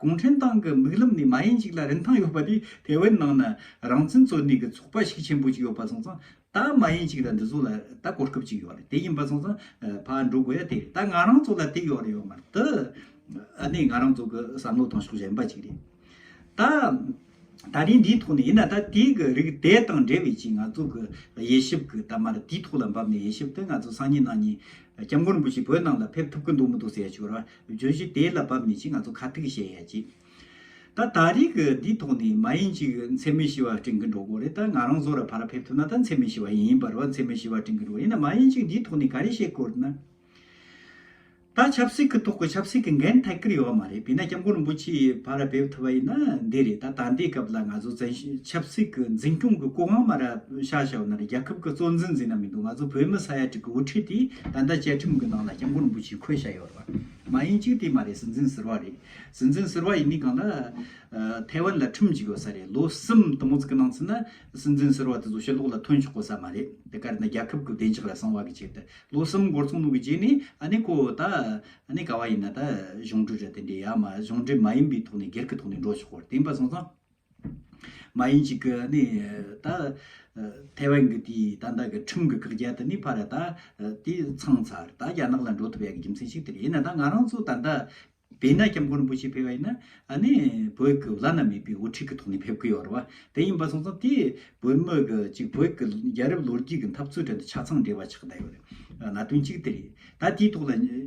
གུང་ཁྲན་ཏང་གི་མིག་ལམ་ནས་མ་ཡིན་གཅིག་ལ་རིན་ཐང་ཡོད་པ་དེ་ཐའེ་ཝན་ནང་ན་རང་བཙན་འཚོལ་གནས་ཀྱི་ཚོགས་པ་ཞིག་ཆེན་པོ་གཅིག་ཡོད་པ་སོང་ཙང་ད་མ་ཡིན་གཅིག་ལ་འདི་ཚོ་ལ་ད་གོ་སྐབས་གཅིག་ཡོད་རེད་དེ་ཡིན་པ་སོང་ཙང་ཕར་འགྲོ་དགོས་ཡ་དེ་རེད་ད་ང་རང་ཚོ་ལ་དེ་ཡོད་རེད་ཡོད་མ་རེད་དེ་ཨ་ནི་ང་རང་ཚོ་གི་བསམ་བློ་དང་ཕྱོགས་གཞན་པ་གཅིག་རེད་ད། ད་རིང་འདིའི་ཐོག་ནས་ཡིན་ན་ད་དེའི་གི་རིགས་དེ་དང་འབྲེལ་བའི་ཅིག་ང་ཚོ་གི་དབྱེ་ཞིབ་གི་ད་མར་དེའི་ཐོག་ལ་འབབ་ནས་དབྱེ་ཞིབ་དེ་ང་ཚོ་སང་ཉིན་གནངས་ཉིན་སྐྱབས་མགོན་རིན་པོ་ཆེ་བོད་ནང་ལ་ཕེབས་ཐུབ་གི་འདུག་མི་འདུག་ཟེར་ཡ་ཆོས་ར་བརྗོད་གཞི་དེ་ལ་བབ་ནས་ཀྱི་ང་ཚོ་ཁ་ཐུག་བཤད་ཡ་ཅིག་ད་ད་རིག་གི་འདི་ཐོག་ནས་མ་ཡིན་ཅིག་མཚན་མོའི་བྱི་བ་སྤྲིང་གི་འགྲོ་དགོ་རེད་ད་ང་རང་བཟོ་ར་ཕ་ར་ཕེབས་ཐུབ་ན་ད་མཚན་མོའི་བྱི་བ་ཡིན་པར་བ་མཚན་མོའི་བྱི་བ་སྤྲིང་གི་འགྲོ་ཡིན་ན་མ་ཡིན་ཅིག་འདི་ཐོག་ནས་ག་རེ་བཤད་དགོ་རེད་ན། ད་ཆབ་སྲིད་གི་ཐོག་གི་ཆབ་སྲིད་གི་འགན་ཐད་ཀར་ཡོ་བ་མ་རེད་བས་ན་སྐྱབས་མགོན་རིན་པོ་ཆེའི་ཕ་ར་ཕེབས་ཐུབ་བ་ཡིན་ན་འདི་རེད་ད་ད་འདའི་སྐབས་ལ་ང་ཚོ་བཙན་བྱོལ་ཆབ་སྲིད་གི་འཛིན་སྐྱོང་གི་སྐུ་དབང་མ་ར་ཤ་ཤ་བ་ན་ར་རྒྱ་ཁབ་གི་གཙོ་འཛིན་འཛིན་ན་མི་འདུག་ང་ཚོ་བོད་མི་ས་ཡ་གཅིག་གི་དབུ་ཁྲིད་དེ་ད་འདའ་བཅའ་ཁྲིམས་གི་ནང་ལ་སྐྱབས་མགོན་རིན་པོ་ཆེའི་ཁོད་ཤ་ཡོ། མ་ཡིན་གཅིག་དེ་མ་རེད་སྲིད་འཛིན་ཟེར་བ་རེད། སྲིད་འཛིན་ཟེར་བ་ཡིན་མིན་གང་ལ། ཐའེ་ཝན་ལ་ཁྲིམས་འཇུག་ཡོད་ས་རེད་ལོ་གསུམ་དང་པོ་ཙིག་གི་ནང་ཚུད་ན་སྲིད་འཛིན་ཟེར་བ་དེ་ཚོ་ཕྱི་ལོག་ལ་ཐོན་ཆོག་གོ་ས་མ་རེད་དེ་གར་ན་རྒྱལ་ཁབ་ཀུ་བདེ་འཇག་ལ་གསང་བ་གི་ཆེད་དུ་ལོ་གསུམ་འགོར་ཚོང་ལུགས་གི་རྗེས་ནས་ཨ་ནི་ཁོ་ད་ནི་ག་བ་ཡིན་ན་ད་གཞུང་འབྲུ་རེད་དེ་འདྲས་ཡ་མ་གཞུང་འབྲེལ་མ་ཡིན་པའི་ཐོག་ནས་སྒེར་གི་ཐོག་ནས་འགྲོ་ཆོག་གོ་རྟེན་པ་སོང་ཙང། མ་ཡིན་ཅིག་གིས་ནི་ད། ཐའེ་ཝན་གྱི་དེའི་ད་ལྟ་གི་ཁྲིམས་ཀྱི་བཀག་རྒྱ་དེ་ནི་ཕར་ད། དེ་ཚང་ཚར་ད་རྒྱ་ནག་ལ་འགྲོ་ཐུབ་ཡག་གི་རྒྱུ་མཚན་ཞིག་དེ་རེད་ཡིན་ན་ད་ང་རང་ཚོ་ད་ལྟ། བོད་ན་སྐྱབས་མགོན་རིན་པོ་ཆེ་ཕེབས་པ་ཡིན་ན་ནི་བོད་ཀྱི་བླ་ན་མེད་པའི་དབུ་ཁྲིད་ཀྱི་ཐོག་ནས་ཕེབས་ཀྱི་ཡོད་རེད་བ་དེ་ཡིན་པ་སོང་ཙང་དེས་བོད་མི་གི་ཅིག་བོད་ཀྱི་རྒྱལ་རབས་ལོ་རྒྱུས་ཀྱི་འཐབ་རྩོད་ཁྲོད་དུ་ཆ་ཚང་འདྲེས་པ་ཆགས་ད་ཡོད་རེད། ན་དོན་ཅིག་དེ་རེད་ད་དེའི་ཐོག་ལ།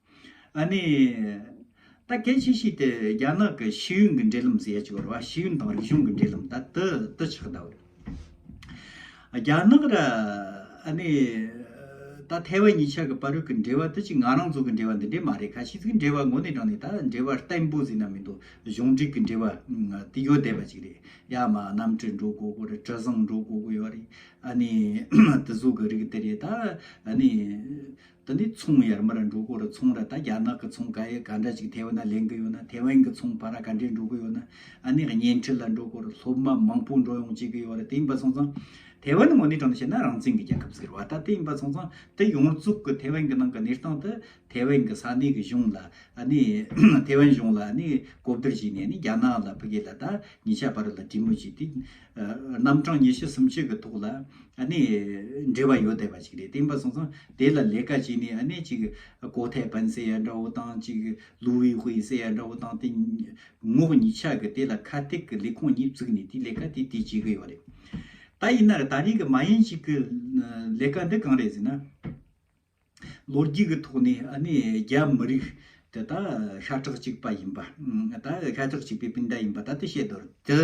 ཨ་ནི། ད་གལ་ཆེ་ཤོས་དེ་རྒྱ་ནག་གི་ཤེས་ཡོན་གྱི་འབྲེལ་ལམ་ཟེར་ཡ་ཅིག་ཡོད་རེད་བ་ཤེས་ཡོན་དང་རིག་གཞུང་གི་འབྲེལ་ལམ་ད་དེ་དེ་ཆགས་གདའ་བོ་རེད། རྒྱ་ནག་ར་ཨ་ནི། ད་ཐའེ་ཝན་གཉིས་ཆར་གྱི་པར་རིས་ཀྱི་འབྲེལ་བ་དེ་ཅིག་ང་རང་ཚོ་གྱི་འབྲེལ་བ་འདི་འདྲས་མ་རེད་ཁ་ཤས་ཀྱི་འབྲེལ་བ་ངོ་ནས་དྲངས་ནས་ད་འབྲེལ་བ་བརྟན་པོ་ཟེར་ན་མི་འདུག་གཞུང་འབྲེལ་གྱི་འབྲེལ་བ་དེ་ཡོད་བསྡད་པ་ཅིག་རེད་ཡ་མ་གནམ་གྲུ་འགྲོ་དགོས་དགོས་རེད་དྲི་བཟང་འགྲོ་དགོས་དགོས་ཡོད་རེད་ཨ་ནི། དེ་ཟུག་གི་རིགས་དེ་རེད་ད་ཨ་ནི། དེ་ནས་ཚོང་ཡར་མར་འགྲོ་དགོས་རུ་ཚོང་ར་ད་རྒྱ་ནག་གི་ཚོང་ག་ཡི་ག་འདྲ་ཅིག་ཐེ་ཝན་ན་ལེན་གི་ཡོད་ན་ཐེ་ཝན་གི་ཚོང་བ་ར་ག་འདྲས་འགྲོ་གི་ཡོད་ན་ཨ་ནི་བརྙན་འཕྲིན་ལ་འགྲོ་དགོས་རུ་སློབ་མ་མང་པོ་འགྲོ་ཡོང་བྱེད་གི་ཡོད་རུ་དེ་ཡིན་པ་སོང་ཙང་ཐེ་ཝན་ངོ་ནས་དྲང་དུ་བཤད་ན་རང་བཙན་གི་རྒྱལ་ཁབ་ཟེར་བ་ད་དེ་ཡིན་པ་སོང་ཙང་དེ་ཡོངས་རྫོགས་གི་ཐེ་ཝན་གི་ནང་གི་གནས་སྟངས་དེ་ཐེ་ཝན་གི་ས་གནས་གི་གཞུང་ལ་ཨ་ནི་ཐེ་ཝན་གཞུང་ལ་ཨ་ནི་གོ་བསྡུར་བྱས་ནས་ཨ་ནི་རྒྱ་ནག་ལ་ཕི་གེ་ལ་ད་ཉི་ཤ་བ་རུ་ལ་གྲོས་མོལ་བྱས་ཏེ་རྣམ་གྲངས་ཉི་ཤུ་སུམ་ཅུ་གི་ཐོག་ལ་ནི་འབྲེལ་བ་ཡོད་བསྡད་པ་ཞིག་རེད་དེ་པ་སོང་ཙང་དེ་ལ་ལས་ཀ་བྱས་ནས་ནི་ཅིག་ཀོ་ཐའི་པན་ཟེར་ཡ་འདྲ་བོ་དང་ཅིག་ལུའུ་ཝི་ཧུའེ་ཟེར་ཡ་འདྲ་བོ་དང་དེ་ངོགས་གཉིས་ཆ་གི་དེ་ལ་ཁ་ཐེག་གི་ལས་ཁུངས་གཉིས་བཙུགས་ནས་དེ་ལས་ཀ་དེ་དེ་བྱེད་གི་ཡོད་རེད་ད་ཡིན་ན་ད་རིང་གི་མ་ཡིན་ཅིག་གི་ལས་ཀ་འདི་གང་རེད་ཟེར་ན། ལོ་རྒྱུས་ཀྱི་ཐོག་ནས་ནི་རྒྱ་མི་རིགས་དེ་དག་ཤ་ཁྲག་གཅིག་པ་ཡིན་པ་དང་ཤ་ཁྲག་གཅིག་པའི་སྤུན་ཟླ་ཡིན་པ་ད་ལྟ་བཤད་དོ། དེ་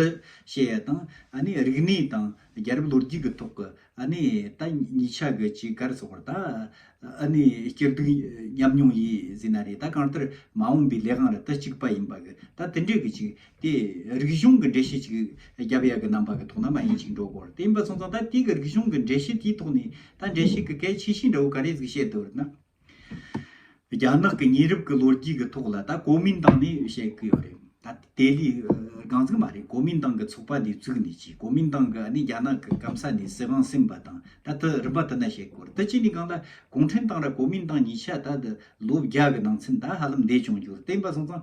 བཤད་ཡ་དང་ནི་རིག་གནས་དང་རྒྱལ་རབས་ལོ་རྒྱུས་ཀྱི་ཐོག་གི་ནི་ད་ཉིས་ཆ་གི་གཅིག་གར་སོགས་པར་ད་ནི་སྐྱིར་སྡུག་མཉམ་མྱོང་ཡིན་ཟིན་ན་རེད་ད་གང་ལྟར་མ་འོངས་པའི་ལས་གང་ལ་ད་གཅིག་པ་ཡིན་པ་གི་ད་དེ་འདྲས་གི་གཅིག་དེ་རིག་གཞུང་གི་འགྲེལ་བཤད་ཅིག་རྒྱ་བོད་གཉིས་ཀྱི་རྣམ་པ་གི་ཐོག་ན་མ་ཡིན་ཅིག་འགྲོ་དགོས་རེད་དེ་མིན་པ་སོང་ཙང་ད་ལྟའི་གི་རིག་གཞུང་གི་འགྲེལ་བཤད་དེའི་ཐོག་ནས་ད་འགྲེལ་བཤད་གི་གལ་ཆེ་ཤོས་འདྲ་བོ་ག་རེ་ཟིག་བཤད་འདོད་རེད་ན། རྒྱ་ནག་གི་ཉེ་རབས་ཀྱི་ལོ་རྒྱུས་ཀྱི་ཐོག་ལ་ད་གོ་མིན་ཏང་ནས་བཤད་གི་ཡོད་རེད་ད་དེ་ལས་རྒང་ཚིག་མ་རེད་གོ་མིན་ཏང་གི་ཚོགས་པ་འདི་བཙུགས་ནས་ཀྱི་གོ་མིན་ཏང་གི་ནི་རྒྱ་ནག་གི་སྐམ་ས་ནས་སྲིད་དབང་སིམ་པ་དང་ད་དེ་རིམ་པ་དེ་ན་བཤད་གི་རེད་དེ་གཅིག་ནས་གང་ལ་གུང་ཁྲན་ཏང་ར་གོ་མིན་ཏང་གཉིས་ཆ་ད་དེ་ལོ་བརྒྱ་གི་ནང་ཚུན་ད་ཧ་ལམ་འདས་བྱུང་རྒྱུ་རེད་དེ་མིན་པ་སོང་ཙང་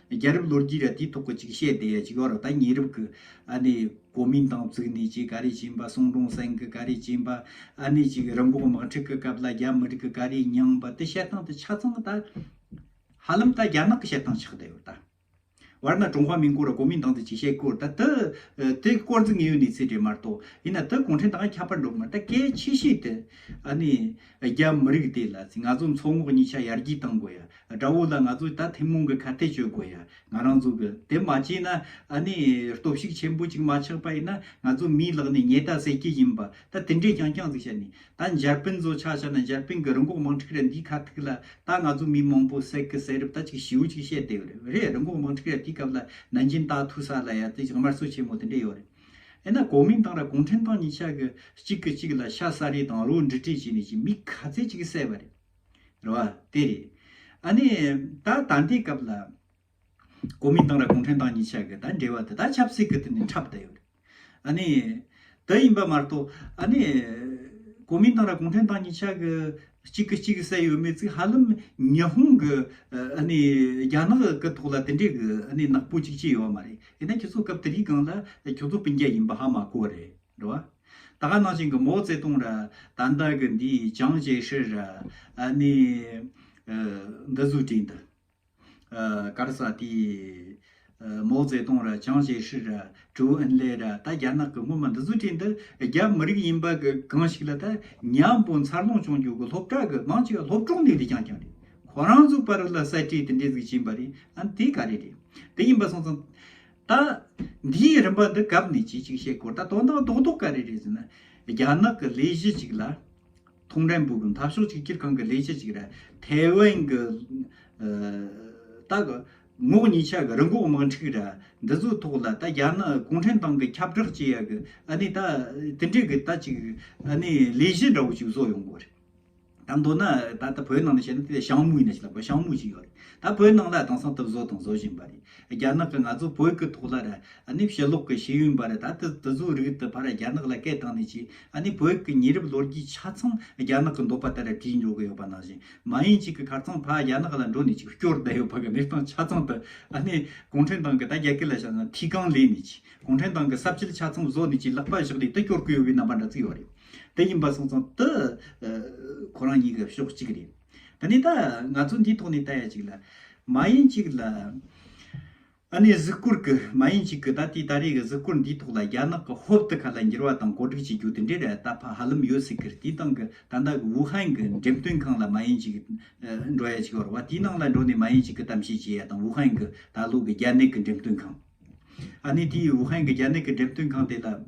རྒྱལ་རབས་ལོ་རྒྱུས་ར་དེའི་ཐོག་གི་ཅིག་བཤད་དེ་ཅིག་ཡོད་ར་ད་ཉེ་རབས་ཀྱི་ཨ་ནི་གོ་མིན་ཏང་བཙུགས་ནས་ཅིག་ག་རེ་བྱིན་པ་སུང་ཀྲོང་སེང་གི་ག་རེ་བྱིན་པ་ཨ་ནི་ཅིག་རིམས་འགོག་དམག་འཁྲུག་གི་སྐབས་ལ་རྒྱ་མི་རིགས་ཀྱི་ག་རེ་མྱངས་པ་དེ་བཤད་སྟངས་དེ་ཆ་ཚང་ད་ཧ་ལམ་ད་རྒྱ་ནག་གི་བཤད་སྟངས་ཆགས་ད་ཡོད་ད། བར་ན་ཀྲུང་ཧྭ་མིན་སྐོར་ར་གོ་མིན་ཏང་དེ་ཅིག་བཤད་སྐོར་ད་དེ་དེ་སྐོར་འཛིན་ངེས་ཡོད་ནས་ཚེ་འབྲེལ་མ་རྟོགས་ཡིན་ན་དེ་གུང་ཁྲན་ཏང་ཡ་ཁྱབ་པར་འགྲོ་གི་མ་རེད་ད་གལ་ཆེ་ཤོས་དེ་ཨ་ནི་རྒྱ་མི་རིགས་དེ་ལ་ང་ཚོ་མཚོ་ངོགས་གཉིས་ཆ་ཡར་རྒྱས་གཏང་དགོས་ཡ། དགྲ་བོ་ལ་ང་ཚོ་ད་ཐུན་མོང་གི་ཁ་གཏད་གཅོད་དགོས་ཡ་ང་རང་ཚོ་གི། དེ་མ་བྱས་ན་ཨ་ནི་སྟོབས་ཤུགས་ཆེན་པོ་གཅིག་མ་ཆགས་པ་ཡིན་ན་ང་ཚོ་མིའི་ལག་ནས་ཉེས་ད་སད་ཀྱི་ཡིན་པ་ད་དེ་འདྲས་རྐྱང་རྐྱང་ཟིག་བྱས་ནས་ད་འཇར་པན་ཚོ་ཆ་བྱས་ན་འཇར་པན་གི་རི་འགོག་དམག་འཁྲིག་ར་འདིའི་ཁ་ཐུག་ལ་ད་ང་ཚོ་མི་མང་པོ་སད་ཀི་སད་རུབ་ད་ཅིག་ཞིའུ་ཅིག་བྱས་ཏེ་ཡོད་རེད་རི་འགོག་དམག་འཁྲིག་ར་དེའི་སྐབས་ལ་ནན་ཅིན་ད་ཐུག་ས་ལ་ཡ་དེ་ཅིག་དམར་གསོད་ཆེན་མོ་དེ་འདྲས་ཡོད་རེད། ཡིན་ན་གོ་མིན་ཏང་ར་གུང་ཁྲན་ཏང་གཉིས་ཆ་གི་གཅིག་གི་གཅིག་ལ་ཤ་ཟ་རེས་དང་རོ་འབྲི་བྲིས་བྱས་ནས་ཀྱི་མི་ག་ཚད་ཅིག་བསད་པ་རེད་བ་དེ་རེད། ཨ་ནི་ད་ད་ལྟའི་སྐབས་ལ་གོ་མིན་ཏང་ར་གུང་ཁྲན་ཏང་གཉིས་ཆ་གི་ད་འབྲེལ་བ་དེ་དག་ཆབ་སྲིད་ཀྱི་སྟེང་ནས་འཁྲབ་བསྡད་ཡོད་རེད། ཨ་ནི་དེ་ཡིན་པ་མ་གཏོགས་ཨ་ནི་གོ་མིན་ཏང་ར་གུང་ཁྲན་ཏང་གཉིས་ཆ་གི་གཅིག་གི་གཅིག་བསད་ཡོད་མེད་ཚིག་ཧ་ལམ་ཉི་ཧོང་གི་ཨ་ནི་རྒྱ་ནག་གི་ཐོག་ལ་དེ་འདྲའི་གི་ཨ་ནི་ནག་པོ་ཅིག་བྱས་ཡོད་མ་རེད། དེ་ནས་ཁྱེད་ཚོ་སྐབས་དེ་དུས་གང་ལ་ཁྱོད་ཚོ་སྤུན་རྒྱལ་ཡིན་པ་ཧ་མ་གོ་རེད་འགྲོ་བ། ད་ག་ནང་བཞིན་གི་མོ་བརྩེ་དུང་ར་ད་འདའ་གི་འདི་ཅང་བྱེད་ཧྲི་ར་ནི་འདི་ཟུ་དྲིན་འདི་གར་ས་དེ་མོ་བརྩེ་དུང་ར་ཅང་བྱེད་ཧྲི་ར་ཀྲུའུ་ཨིན་ལེ་ར་ད་རྒྱ་ནག་གི་སྔོན་མ་འདི་ཟུ་དྲིན་འདི་རྒྱ་མི་རིགས་ཡིན་པ་གང་ཞིག་ལ་ད་ཉམས་པོ་འཚར་ལོངས་བྱུང་རྒྱུ་གི་སློབ་གྲྭ་གི་མང་ཆེ་བ་སློབ་གྲོང་ནས་དེ་ཀྱང་ཀྱང་རེད་ཁོ་རང་གཟུགས་པར་ལ་གསལ་བྲིས་དེ་འདྲས་གཟིགས་བཞིན་པ་རེད་དེ་ག་རེ་རེད་དེ་ཡིན་པ་སོང་ཙང། ད། འདིའི་རིམ་པ་འདི་གབ་ནས་ཅི་ཞིག་བཤད་དགོས་ད་དོན་དག་རྡོག་རྡོག་ག་རེ་རེད་ཟེར་ན། རྒྱ་ནག་གི་ལས་གཞི་ཅིག་ལ། ཐོང་ཀྲན་པུའུ་གི་འཐབ་ཕྱོགས་གཅིག་གྱུར་ཁང་གི་ལས་གཞི་ཅིག་ར་ཐའེ་ཝན་གྱི། ད། ངོགས་གཉིས་ཆ་གི་རི་འགོག་དམག་འཁྲུག་ར་འདི་ཚོའི་ཐོག་ལ་ད་རྒྱ་ནག་གུང་ཁྲན་ཏང་གི་ཁྱབ་བསྒྲགས་བྱེད་ཡ་གི་ཨ་ནི་ད་དེ་འདྲས་གི་ད་ཅིག་ཨ་ནི་ལས་གཞི་འདྲ་བོ་ཞིག་བཟོ་ཡོང་དགོས་རེད། ད་མདོར་ན་ད་ལྟ་བོད་ནང་ནས་བཤད་ན་དེ་ཞང་མུའུ་ཡིན་ན་ཞིག་ལབ་དགོས་ཞང་མུའུ་ཞིག་ཡོད་རེད་ད་བོད་ནང་ལ་དེང་སང་དུ་བཟོ་དང་བཟོ་བཞིན་པ་རེད་རྒྱ་ནག་གི་ང་ཚོ་བོད་ཀྱི་ཐོག་ལ་ར་ཨ་ནི་ཕྱི་ལོག་གི་ཤེས་ཡོན་པ་ར་ད་དུ་དུ་བཟོ་རིགས་དུ་ཕ་ར་རྒྱ་ནག་ལ་སྐད་བཏང་ནས་ཅིག་ཨ་ནི་བོད་ཀྱི་ཉེ་རབས་ལོ་རྒྱུས་ཆ་ཚང་རྒྱ་ནག་གི་འདོད་པ་ལྟར་ར་བྲིས་འཇོག་གི་ཡོད་པ་ནང་བཞིན་མ་ཡིན་ཅིག་གི་ཁར་ཚང་ཕ་རྒྱ་ནག་ལ་འགྲོ་ནས་ཅིག་སྐྱོར་བསྡད་ཡོད་པ་གི་གནས་སྟངས་ཆ་ཚང་དུ་ཨ་ནི་གུང་ཁྲན་ཏང་གི་ད་རྒྱ་གར་ལ་ཞང་ན་ཐིས་ཀང་ལས་ནས་ཅིག་གུང་ཁྲན་ཏང་གི་ཟབ་ཆོས་ཆ་ཚང་བཟོ་ནས་ཅིག་ལག་པ་བཞག་ནས་དུ་སྐྱོར་གི་ཡོད་པའི་རྣམ་པ་འདྲ་ཚིག་ཡོད་རེད། དེ་ཡིན་པ་སོང་ཙང་ཏུ་ཁོ་རང་གཉིས་ཀ་ཕྱོགས་གཅིག་རེད། ད་ནི་ད་ང་ཚོ་འདིའི་ཐོག་ནས་བལྟ་ཡ་ཅིག་ལ། མ་ཡིན་ཅིག་ལ། ཨ་ནེ་གཟིགས་སྐོར་གི་མ་ཡིན་ཅིག་གི་ད་ལྟའི་ད་རེས་ཀྱི་གཟིགས་སྐོར་འདིའི་ཐོག་ལ་རྒྱ་ནག་གི་ཧོབ་ཏུ་ག་ལ་འགྱུར་བ་དང་གོ་སྒྲིག་བྱེད་རྒྱུ་དེ་འདྲའི་རེ་ད་ཕ་ཧ་ལམ་ཡོད་སྲིད་ཁར་དེའི་སྟེང་གི་ད་ལྟ་གི་ཝུ་ཧན་གྱི་འགྲེམས་སྟོན་ཁང་ལ་མ་ཡིན་ཅིག་འགྲོ་ཡ་ཅིག་བར་བ་དེའི་ནང་ལ་འགྲོ་ནས་མ་ཡིན་ཅིག་གི་གཏམ་བཤད་བྱེད་ཡ་དང་ཝུ་ཧན་གྱི་ད་ལོ་གི་རྒྱ་ནག་གི་འགྲེམས་སྟོན་ཁང། ཨ་ནེ་དེའི་ཝུ་ཧན་གྱི་རྒྱ་ནག་གི་འགྲེམས་སྟོན་ཁང་དེ་ལ།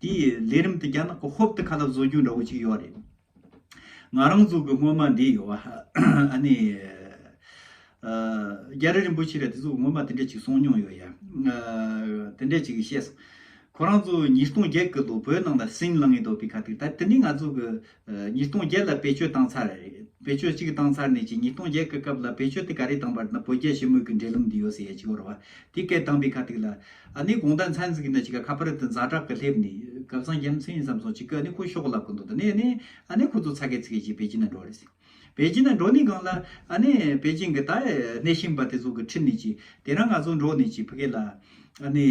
དེ་ཡི་ལས་རིམ་དུ་རྒྱ་ནག་གི་ཧོབ་ཏུ་ཁ་ལག་བཟོ་རྒྱུ་འདྲ་བོ་ཅིག་ཡོད་རེད། ང་རང་གཟུགས་ཀྱི་སྔོན་མ་འདི་ཡོད། ཨ་ནི། རྒྱ་རི་རིན་པོ་ཆེ་ལས་དེ་གཟུགས་ཀྱི་སྔོན་མ་དེ་འདྲ་ཅིག་སོང་མྱོང་ཡོད་ཡ། དེ་འདྲ་ཅིག་བཤད་སོང། ཁོ་རང་ཚོ་ཉིས་སྟོང་བརྒྱད་ཀྱི་ལོ་བོད་ནང་ལ་སིང་ལང་ཡི་དོ་པི་ཁ་ཐིག་ད་དེ་ནི་ང་ཚོ་གི་ཉིས་སྟོང་བརྒྱད་ལ་བེད་སྤྱོད་བཏང་ཚར། བེད་སྤྱོད་གཅིག་བཏང་ཚར་ནས་ཀྱི་ཉིས་སྟོང་བརྒྱད་ཀྱི་སྐབས་ལ་བེད་སྤྱོད་དེ་ག་རེ་བཏང་བར་ན་བོད་རྒྱ་ཞི་མོལ་གྱི་འབྲེལ་ལམ་འདི་ཡོད་ཟེར་ཡ་གཅིག་བོར་བ། དེ་སྐད་བཏང་པའི་ཁ་ཐུག་ལ། ཨ་ནི་དགོངས་དག་མཚན་ཟིག་ན་ཅིག་ག་ཁ་པར་དུ་འཛག་དྲག་གི་སླེབས་ནས། གབ་ས་རྒྱལ་མཚན་ཡིན་བསམ་སོང་ཅིག་གི་ཨ་ནི་ཁོ་ཤོག་ལབ་གི་འདུག་ད་ནས་ཨ་ནི། ཨ་ནི་ཁོ་ཚོ་ཚ་གེ་ཚི་གེ་ཅིག་བེད་སྤྱི་ན་འགྲོ་རེ་ཟིག། པེ་ཅིན་ན་འགྲོ་ནི་གང་ལ། ཨ་ནི། པེ་ཅིན་གྱི་ད་ཨེ་གནས་ཤིང་པ་དེ་ཚོ་གི་ཁྲིད་ནི་ཅིག། དེ་རང་ང་ཚོ་འགྲོ་ནི་ཅིག་བྷི་གེ་ལ། ཨ་ནི།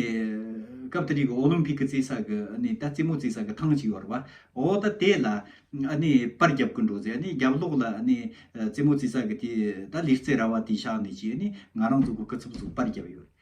སྐབས་དེ་རིགས་ཀྱི་ཨོ་ལིམ་ཕིག་གི་རྩིས་ས་གི་ཨ་ནི་ད་རྩིས་མོ་རྩིས་ས་གི་ཐང་ཅིག་ཡོད་རེད་བ། ཨོ་ད་དེ་ལ། ཨ་ནི་པར་རྒྱབ་ཀྱི་འགྲོ་ཟེ་ཨ་ནི་རྒྱབ་ལོགས་ལ་ཨ་ནི། རྩིས་མོ་རྩིས་ས་གི་དེ་ད་ལིར་རྩེ་ར་བ་དེ་བཞག་ནི་ཅིག་ཨ་ནི་ང་རང་ཚོ་གི་ཀི་ཚུབ་ཚུབ་པར་རྒྱབ་ཡོད་རེད།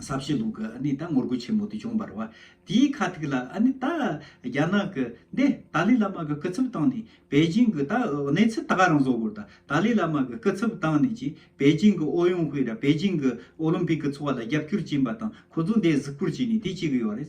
ས་བྱི་ལུགས་ཀྱི་ཨ་ནི་ད་ངོ་རྒོལ་ཆེན་མོ་དེ་བྱུང་བར་བ་དེའི་ཁ་ཐུག་ལ་ཨ་ནི་ད་རྒྱ་ནག་གི་འདི་ཏཱ་ལི་བླ་མ་གི་སྐུ་ཚབ་བཏང་ནས་པེ་ཅིང་གི་ད་གནས་ཚུལ་ད་ག་རང་བཟོ་དགོས་རེད་ད་ཏཱ་ལི་བླ་མ་གི་སྐུ་ཚབ་བཏང་ནས་ཀྱི་པེ་ཅིང་གི་ཨོ་ཡོང་ཧུའེ་ར་པེ་ཅིང་གི་ཨོ་ལིམ་པིག་གི་ཚོགས་ལ་རྒྱབ་སྐྱོར་བྱིན་པ་དང་ཁོ་ཚོ་འདི་གཟིགས་སྐོར་བྱས་ནས་དེ་བྱེད་གི་ཡོད་རེད།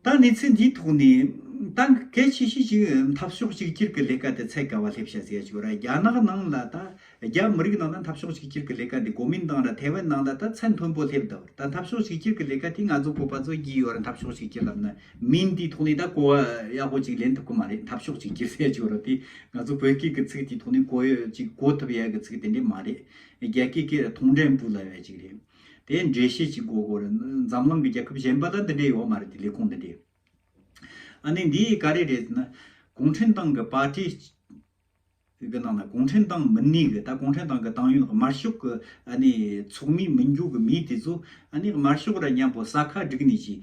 ད་གནས་ཚུལ་འདིའི་ཐོག་ནས་ཏང་གི་གལ་ཆེ་ཤོས་ཀྱི་འཐབ་ཕྱོགས་གཅིག་གྱུར་གྱི་ལས་ཀ་དེ་ཚད་བཀལ་བ་སླེབས་བྱ་ཟེར་ཆོག་ར་རྒྱ་ནག་ནང་ལ་ད་རྒྱ་མི་རིགས་ནང་ལ་འཐབ་ཕྱོགས་གཅིག་གྱུར་གྱི་ལས་ཀ་འདི་གོ་མིན་ཏང་ར་ཐའེ་ཝན་ནང་ལ་ད་ཚད་མཐོན་པོ་སླེབས་འདུག་ད་འཐབ་ཕྱོགས་གཅིག་གྱུར་གྱི་ལས་ཀ་དེ་ང་ཚོ་བོད་པ་ཚོ་བགྱིས་ཡོད་ར་འཐབ་ཕྱོགས་གཅིག་གྱུར་ལབ་ན་མིན་དེའི་ཐོག་ནས་ད་གོ་བ་ཡག་པོ་གཅིག་ལེན་ཐུབ་ཀྱི་མ་རེད་འཐབ་ཕྱོགས་གཅིག་གྱུར་ཟེར་ཆོག་ར་དེ་ང་ཚོ་བོད་སྐད་ཀྱི་ཚིག་དེའི་ཐོག་ནས་གོ་ཡོད་ཅིག་གོ་ཐུབ་ཡག་གི་ཚིག་དེ་འདྲས་མ་རེད་རྒྱ་སྐད་ཀྱི་ཐོག་འགྲན་འབུ་ལ་བས་ཅིག་རེད། དེ་འགྲེལ་བཤད་ཅིག་གོ་གོ་རེད། འཛམ་གླིང་གི་རྒྱལ་ཁབ་གཞན་པ་ལ་འདི་འདྲའི་ཡོད་མ་རེད་དེ་ལས་ཁུངས་འདི་འདྲའི། ཨ་ནི་འདི་ག་རེ་རེད་ཟེར་ན། གུང་ཁྲན་ཏང་གི་པར་ཏི། གི་ནང་ན་གུང་ཁྲན་ཏང་མི་སྣའི་གི་ད་གུང་ཁྲན་ཏང་གི་ཏང་ཡོན་དམར་ཤོག་གི་ཨ་ནི་ཚོགས་མིའི་མི་འགྱུར་གི་མི་དེ་ཚོ་ཨ་ནི་དམར་ཤོག་ར་མཉམ་པོ་ས་ཁ་བསྒྲིགས་ནས་ཀྱི།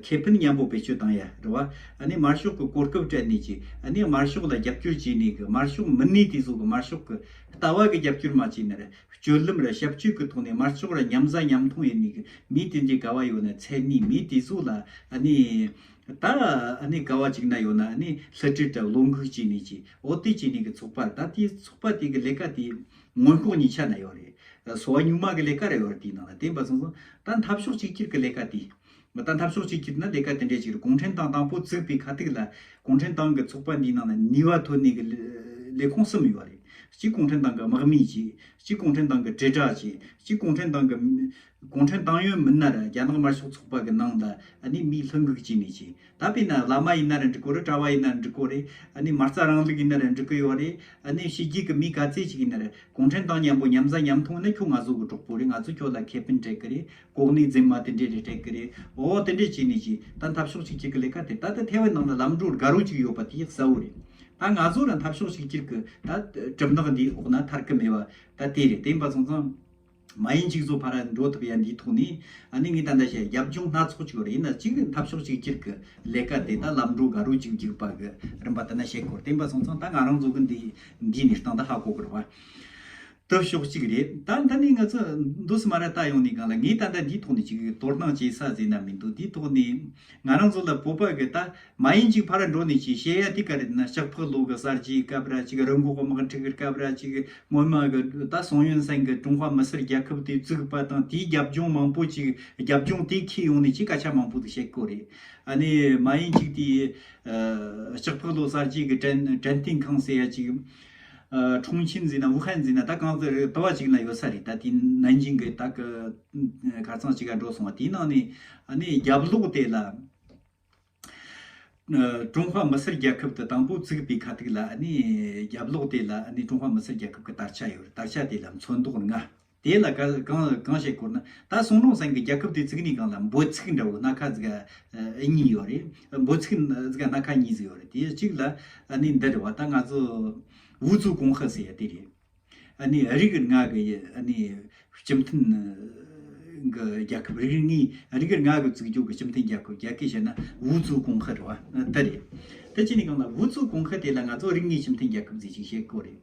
ཁེ་ཕན་མཉམ་པོ་བེད་སྤྱོད་བཏང་ཡ་རེད་བ། ཨ་ནི་དམར་ཤོག་གི་གོ་སྐབས་སྤྲད་ནས་ཀྱི་ཨ་ནི་དམར་ཤོག་ལ་རྒྱབ་སྐྱོར་བྱས་ནས་གི་དམར་ཤོག་མི་སྣའི་དེ་ཚོ་གི་དམར་ཤོག་གི་ལྟ་བ་གི་རྒྱབ་སྐྱོར་མ་བྱས་ན་རེད། སྤྱོད་ལམ་རེ་ཞབས་སྤྱོད་ཀྱི་ཐོག་ནས་མར་ཕྱོགས་རེ་མཉམ་བཟའ་མཉམ་འཐུང་ཡོད་ནི་མི་དེ་འདྲའི་དགའ་བ་ཡོད་ན་མཚན་ནི་མི་དེ་ཚོ་ལ་ནི་ད་ནི་དགའ་བ་གཅིག་ན་ཡོད་ན་ནི་ལྷི་སྤྲུལ་དང་བློ་འགུགས་བྱས་ནི་ཅི་འོ་དེ་བྱས་ནི་གི་ཚོགས་པར་ད་དེ་ཚོགས་པ་དེ་གི་ལས་ཀ་དེ་མངོན་ལྐོག་གཉིས་ཆ་ན་ཡོད་རེད་གསོ་བ་གཉུག་མ་གི་ལས་ཀ་རེ་ཡོད་རེད་དེའི་ནང་ལ་བསྟན་པ་སོང་སོང་ད་འཐབ་ཕྱོགས་གཅིག་གྱུར་གི་ལས་ཀ་དེ་མི་དང་འཐབ་ཕྱོགས་གཅིག་གྱུར་ནི་ལས་ཀ་དེ་འདྲའི་ཞིག་རེད་གུང་ཁྲན་ཏང་དང་པོ་བཙུགས་པའི་ཁ་ཐུག་ལ་གུང་ཁྲན་ཏང་གི་ཚོགས་པ་འདིའི་ནང་ན་ནུས་བ་ཐོན་ནུས་ཀྱི་ལས་ཁུངས་གསུམ་ཡོད་རེད་གཅིག་གུང་ཁྲན་ཏང་གི་དམག་མིའི་ཅིག་གཅིག་གུང་ཁྲན་ཏང་གི་དྲིལ་བསྒྲགས་ཅིག་གཅིག་གུང་ཁྲན་ཏང་གི་གུང་ཁྲན་ཏང་ཡོན་མི་སྣ་རེད་རྒྱ་ནག་དམར་ཤོག་ཚོགས་པ་གི་ནང་ལ་ནི་མིའི་ལྷུན་གུག་ཅིག་ནས་ཅིག་ད་པེ་ན་བླ་མ་ཡིན་ན་རེ་འགྲིག་གོ་རེ་གྲྭ་བ་ཡིན་ན་རེ་འགྲིག་གོ་རེ་ནི་མ་རྩ་རང་ལུགས་ཡིན་ན་རེ་འགྲིག་གི་ཡོད་རེད་ནི་ཕྱི་རྒྱལ་གྱི་མི་ག་ཚད་ཅིག་ཡིན་ན་རེ་གུང་ཁྲན་ཏང་མཉམ་པོ་མཉམ་བཟའ་མཉམ་འཐུང་ནི་ཁྱོད་ང་ཚོ་གི་གྲོགས་པོ་རེད་ང་ཚོས་ཁྱོད་ལ་ཁེ་ཕན་སྤྲད་གི་རེད་ལྐོག་ནས་འཛེམ་མ་དེ་འདྲས་རེ་སྤྲད་ཀི་རེད་འོ་དེ་འདྲས་བྱས་ནས་ཀྱི་ད་འཐབ་ཕྱོགས་ཅིག་ཅིག་གི་ལས་ཀ་དེ་ད་ལྟ་ཐའེ་ཝན་ནང་ལ་ལམ་འགྲོ་དགའ་རོགས་ཅིག་ཡོད་པ་དེ་གསལ་བོ་རེད་ད་ང་ཚོ་རང་འཐབ་ཕྱོགས་ཅིག་ཅིག་གི་ད་གྲིབ་ནག་འདིའི་འོག་ན་ཐར་ཀི་མེད་བ་ད་དེ་རེད་དེ་འབའ་ཚང་ཚང་མ་ཡིན་གཅིག་ཚོ་ཕ་ར་འགྲོ་ཐུབ་ཡ་འདིའི་ཐོག་ནས་ནི་ངས་ད་འདྲ་བྱས་རྒྱབ་ལྗོངས་སྣ་ཚོགས་ཅིག་རེད་ན་གཅིག་འཐབ་ཕྱོགས་ཅིག་ཅིག་གི་ལས་ཀ་དེ་ད་ལམ་འགྲོ་དགའ་རོགས་ཅིག་འཇུག་པ་གི་རིམ་པ་དེ་ན་བྱེད་དགོས་རེད་དེ་འབའ་ཚང་ཚང་ད་ང་རང་ཚོ་གི་འདིའི་ནི་སྟངས་ད་ཧ་གོ་དགོས་རེད་བ། སྟོབས་ཤོག་གཅིག་རེད་ད་འདི་ནས་ང་ཚོ་མདོ་སི་མ་ར་ལྟ་ཡོང་ནས་གང་ལ་ངས་ད་ལྟ་འདིའི་ཐོག་ནས་ཅིག་དོར་སྣང་བྱེད་ས་ཟེར་ན་མི་འདུག་འདིའི་ཐོག་ནས་ང་རང་ཚོ་ལ་བོད་པ་གི་ད་མ་ཡིན་ཅིག་ཕ་ར་འགྲོ་ནས་ཅིག་བཤད་ཡ་དེ་ག་རེད་ན་ལྕགས་ཕག་ལོ་གི་གསར་བརྗེའི་སྐབས་ར་ཅིག་རི་འགོག་དམག་འཁྲུག་གི་སྐབས་ར་ཅིག་སྔོན་མ་གི་ད་སང་ཡོན་སན་གི་ཀྲུང་ཧྭ་མི་སེར་རྒྱལ་ཁབ་དེ་བཙུགས་པ་དང་དེའི་རྒྱབ་ལྗོངས་མང་པོ་ཅིག་རྒྱབ་ལྗོངས་དེ་ཁྱེད་ཡོང་ནས་ཅིག་སྐད་ཆ་མང་པོ་དེ་བཤད་དགོས་རེད་ཨ་ནི་མ་ཡིན་ཅིག་དེའི་ལྕགས་ཕག་ལོ་གསར་བརྗེའི་གི་དྲན་དྲན་རྟེན་ཁང་ཟེར་ཡ་ཅིག་ཁྲུང་ཆིན་འཛིན་ན་ཝུ་ཧན་འཛིན་ན་ད་གང་ཟེར་རེད་དོ་བ་ཅིག་ན་ཡོད་ས་རེད་ད་དེ་ནན་ཅིང་གི་ད་གི་གར་ཚང་ཅིག་ག་འགྲོ་སོང་བ་དེའི་ནང་ནས་ནས་རྒྱབ་ལོག་དེ་ལ་ཀྲུང་ཧྭ་མི་སེར་རྒྱལ་ཁབ་དུ་དང་པོ་བཙུགས་པའི་ཁ་ཐུག་ལ་ནས་རྒྱབ་ལོག་དེ་ལ་ནས་ཀྲུང་ཧྭ་མི་སེར་རྒྱལ་ཁབ་གི་དར་ཆ་ཡོད་རེད་དར་ཆ་དེ་ལ་མཚོན་མདོག་ལྔ། དེ་ལ་གང་ཞེས་བསྐོར་ན་ད་སོང་ནོ་སང་གི་རྒྱལ་ཁབ་དེའི་ཚིག་ནི་གང་ལ་འབོད་ཚིག་འདྲ་བོ་སྣ་ཁ་ཟིག་གཉིས་ཡོད་རེད་འབོད་ཚིག་སྣ་ཁ་གཉིས་ཟིག་ཡོད་རེད་དེའི་གཅིག་ལ་ནི་འདི་རེད་བ་ད་ང་ཚོ་ཝུ་ཚུགས་གོང་ཧི་ཟེར་ཡ་དེ་རེད་ནི་རིག་ནག་གི་ནི་སྤྱི་མཐུན་གི་རྒྱལ་ཁབ་རིག་ནག་གི་བཙུགས་རྒྱུག་གི་སྤྱི་མཐུན་རྒྱལ་ཁབ་རྒྱལ་ཁས་བཤད་ན་ཝུ་ཚུགས་གོང་ཧི་རེད་བ་དེ་རེད་དེ་གཅིག་ནི་གང་ལ་ཝུ་ཚུགས་གོང་ཧི་དེ་ལ་ང་ཚོ་རིག་ནག་སྤྱི་མཐུན་རྒྱལ་ཁབ་ཟིག་ཅིག་བཤད་དགོས་རེད།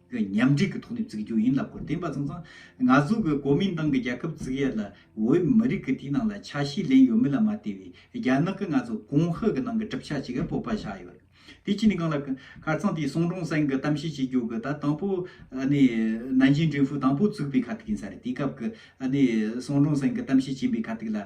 གི་མཉམ་འབྲེལ་གྱི་ཐོག་ནས་བཙུགས་རྒྱུ་ཡིན་ལབ་སྐོར་བསྟན་པ་ཚང་ཚང་ང་ཚོ་གི་གོ་མིན་ཏང་གི་རྒྱལ་ཁབ་བཙུགས་ཡས་ལ་བོད་མི་རིགས་ཀྱི་དེའི་ནང་ལ་ཆ་ཤས་ལེན་ཡོད་མེད་ལ་མ་ལྟོས་བའི་རྒྱ་ནག་གི་ང་ཚོ་གོང་ཧི་གི་ནང་གི་གྲུབ་ཆ་ཅིག་གི་སྤོབས་པ་ཆགས་ཡོད་རེད་དེ་ཅི་ནས་གང་ལབ་ཁར་ཚང་དེའི་སོང་གྲོང་སེང་གི་གཏམ་བཤད་བྱེད་རྒྱུ་གི་ད་དང་པོ་ནས་ནན་ཅིན་ཀྲིན་ཧྥུའུ་དང་པོ་བཙུགས་པའི་ཁ་ཐུག་ཡིན་ས་རེད་དེའི་སྐབས་ཀྱི་སོང་གྲོང་སེང་གི་གཏམ་བཤད་བྱིན་པའི་ཁ་ཐུག་ལ།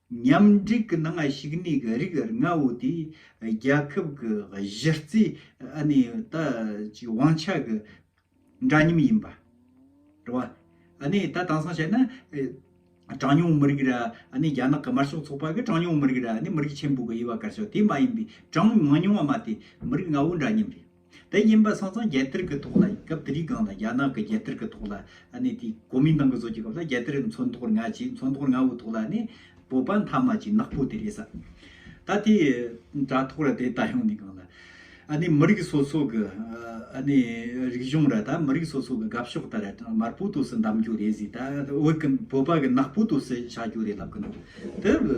མཉམ་སྒྲིག་གི་ནང་ཞུགས་གནས་ཀྱི་རིགས་ལྔ་བོ་དེ་རྒྱལ་ཁབ་ཀྱི་གཞི་རྩའི་དབང་ཆ་གི་འདྲ་མཉམ་ཡིན་པ་རེད། ད་དེང་སང་བྱས་ན་གྲངས་ཉུང་མི་རིགས་ར་རྒྱ་ནག་གི་དམར་ཤོག་ཚོགས་པ་གི་གྲངས་ཉུང་མི་རིགས་ར་མི་རིགས་ཆེན་པོ་གི་དབྱེ་བ་བཀར་ཆོག་དེ་མ་ཡིན་པའི་གྲངས་མང་ཉུང་བ་མ་དེ་མི་རིགས་ལྔ་བོ་འདྲ་མཉམ་རེད། དེ་ཡིན་པ་སོང་ཙང་རྒྱལ་དར་གི་ཐོག་ལ་སྐབས་དེ་རིགས་སྒང་ལ་རྒྱ་ནག་གི་རྒྱལ་དར་གི་ཐོག་ལ་ནི་དེ་གོ་མིན་ཏང་གི་བཟོ་རྒྱུ་སྐབས་ལ་རྒྱལ་དར་མཚོན་ཐོག་རྔ་བྱས་མཚོན་ཐོག་རྔ་བོའི་ཐོག་ལ་ནི་བོད་པ་མཐའ་མ་ཅིག་ནག་པོ་དེ་རེད་ས་ད་དེ་དྲ་ཐོག་ར་དེ་ལྟ་ཡོང་ནི་སྒང་ལ་ནི་མི་རིགས་སོ་སོ་གི་ནི་རིགས་གཞུང་ར་ད་མི་རིགས་སོ་སོ་གི་དགའ་ཕྱོགས་ལྟར་ར་དམར་པོ་དུ་སི་འདམ་རྒྱུ་རེད་ཟི་ད་བོད་ཀི་བོད་པ་གི་ནག་པོ་དུ་སི་བྱ་རྒྱུ་རེད་ལབ་གི་འདུག་དེ་བི།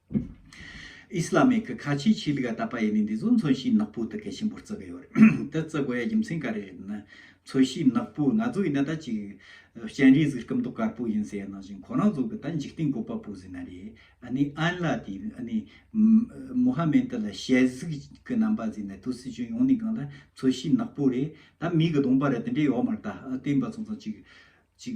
ཨིསི་ལ་མེ་གི་ཁ་ཆེའི་ཆེད་ལུགས་ཡ་ད་པ་ཡེ་ནས་འདི་ཚོ་མཚོན་བྱེད་ནག་པོ་དུ་གལ་ཆེན་པོར་བརྩི་གི་ཡོད་རེད་དེ་བརྩི་དགོས་ཡ་རྒྱུ་མཚན་ག་རེ་རེད་ན་མཚོན་བྱེད་ནག་པོ་ང་ཚོ་ཡིན་ན་ད་ཅིག་སྤྱན་རས་གཟིགས་སྐུ་མདོག་དཀར་པོ་ཡིན་ཟེར་ཡ་ནང་བཞིན་ཁོ་རང་ཚོ་གི་ད་འཇིག་རྟེན་བཀོད་པ་པོ་ཟེར་ན་རེད་ཨ་ནི་ཨན་ལ་དེ་ཨ་ནི་མུ་ཧ་མན་ཏི་ལ་ཞལ་གཟིགས་ཀི་རྣམ་པ་ཟེར་ནས་དུས་སྲིད་ཅུང་ཡོང་ནས་གང་ལ་མཚོན་བྱེད་ནག་པོ་རེད་ད་མིག་གི་གདོང་པ་རེད་དེ་འདྲས་ཡོག་མར་ད་ཨ་བསྟན་པ་ཚང་ཚང་ཅིག་ཅིག་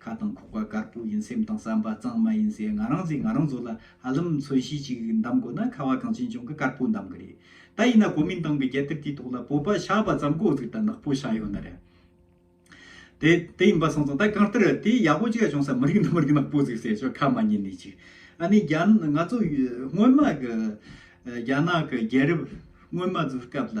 ཁ་དང་ཁོག་པ་དཀར་པོ་ཡིན་སེམས་དང་བསམ་པ་གཙང་མ་ཡིན་ཟེར་ང་རང་ཚོས་ང་རང་ཚོ་ལ་ཧ་ལམ་མཚོན་གཞི་ཅིག་འདམ་དགོས་ན་ཁ་བ་གངས་ཅན་ལྗོངས་ཀྱི་དཀར་པོ་འདམ་གི་རེད་ད་ཡིན་ན་གོ་མིན་ཏང་གི་རྒྱལ་དར་དེའི་ཐོག་ལ་བོད་པ་ཤག་པ་ཙམ་གོ་ཟིག་ད་ནག་པོ་ཤག་ཡོད་ན་རེད་དེ་དེ་ཡིན་པ་སོང་སོང་ད་གང་ལྟར་དེ་ཡག་པོ་ཅིག་བྱུང་ས་མི་རིགས་འདི་མི་རིགས་ནག་པོ་ཟིག་ཟེར་ཆོག་ཁ་མ་ཉིན་ནས་ཅིག་ཨ་ནི་རྒྱ་ནག་ང་ཚོ་སྔོན་མ་གི་རྒྱ་ནག་གི་རྒྱལ་རབས་སྔོན་མ་ཚོའི་སྐབས་ལ།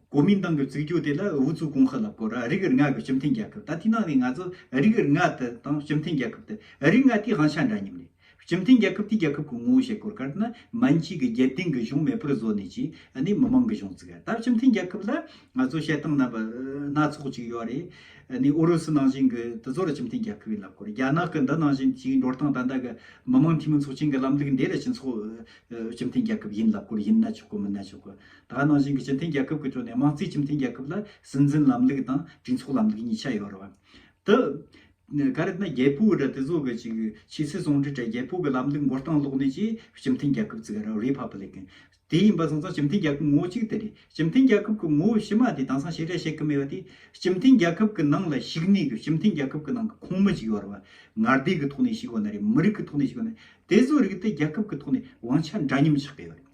གོ་མིན་ཏང་གི་བཙུགས་རྒྱུ་དེ་ལ་ཨུ་ཚུགས་གོང་ཤར་ལབ་གོ་ར་རིགས་རྔ་གི་སྤྱི་མཐུན་རྒྱལ་ཁབ་ད་ཐེངས་ནང་ནས་ང་ཚོ་རིགས་རྔ་དེ་དང་སྤྱི་མཐུན་རྒྱལ་ཁབ་དེ་རིགས་རྔ་དེའི་དབང་ཆ་འདྲ་མཉམ་རེད་སྤྱི་མཐུན་རྒྱལ་ཁབ་དེའི་རྒྱལ་ཁབ་གི་ངོ་བོ་བཤད་དགོས་གལ་ཏེ་ན་མན་གཅིག་གི་རྒྱལ་སྡིངས་གི་གཞུང་མེད་པར་བཟོ་ནས་ཀྱི་ནི་མི་མང་གི་གཞུང་བཙུགས་ཡ་ད་སྤྱི་མཐུན་རྒྱལ་ཁབ་ལ་ང་ཚོ་བཤད་སྟངས་ན་སྣ་ཚོགས་ཅིག་ཡོད་རེད་ཨུ་རུ་སུ་ནང་བཞིན་གི་དེ་ཚོ་ར་སྤྱི་མཐུན་རྒྱལ་ཁབ་ཡིན་ལབ་གོ་ར་རྒྱ་ནག་གི་འདི་ནང་བཞིན་ཅིག་འགྲོ་སྟངས་ད་ལྟ་གི་མི་མང་འཐུས་མི་ཚོགས་ཆེན་གི་ལམ་ལུགས་འདི་ར་སྤྱི་ཚོགས་སྤྱི་མཐུན་རྒྱལ་ཁབ་ཡིན་ལབ་གོ་ར་ཡིན་ན་ཆོག་གོ་མིན་ན་ཆོག་གོ་ད་ནང་བཞིན་གྱི་སྤྱི་མཐུན་རྒྱལ་ཁབ་ཀྱི་ཁྲོད་ནས་དམངས་གཙོའི་སྤྱི་མཐུན་རྒྱལ་ཁབ་ལ་སྲིད་འཛིན་ལམ་ལུགས་དང་གྲོས་ཚོགས་ལམ་ལུགས་གཉིས་ཆ་ཡོད་རེད། དུ། ག་རེ་ན་རྒྱལ་པོའི་རི་དེ་ཚོ་གི་ཅིག་ཆོས་སྲིད་ཟུང་འབྲེལ་གྲས་རྒྱལ་པོ་གི་ལམ་ལུགས་མགོ་རྟིང་བསློགས་ནས་ཀྱིས་སྤྱི་མཐུན་རྒྱལ་ཁབ་བཙུགས་རེད Republic། དེ་ཡིན་པ་སོང་ཙང་སྤྱི་མཐུན་རྒྱལ་ཁབ་ངོ་བོ་གཅིག་དེ་རེད། སྤྱི་མཐུན་རྒྱལ་ཁབ་ཀྱི་ངོ་བོ་ཕྱི་མ་དེ་དེང་སང་ཞིག་རེད་བཤད་ཀྱི་མེད་པ་དེ། སྤྱི་མཐུན་རྒྱལ་ཁབ་ཀྱི་ནང་ལ་ཞིག་ནས་ཀྱི་སྤྱི་མཐུན་རྒྱལ་ཁབ་ཀྱི་ནང་གི་ཁོངས་མི་ཅིག་ཡོད་རེད། ངར་སྡེ་གི་ཐོག་ནས་ཞིག་ཡོད་ན་རེད་མི་རིགས་ཀྱི་ཐོག་ནས་ཞིག་ཡོད་ན་རེད། དེ་ཚོའི་རིགས་དེ་རྒྱལ་ཁབ་ཀྱི་ཐོག་ནས་དབང་ཆ་འདྲ་མཉམ་ཆགས་ཀྱི་ཡོད་རེད།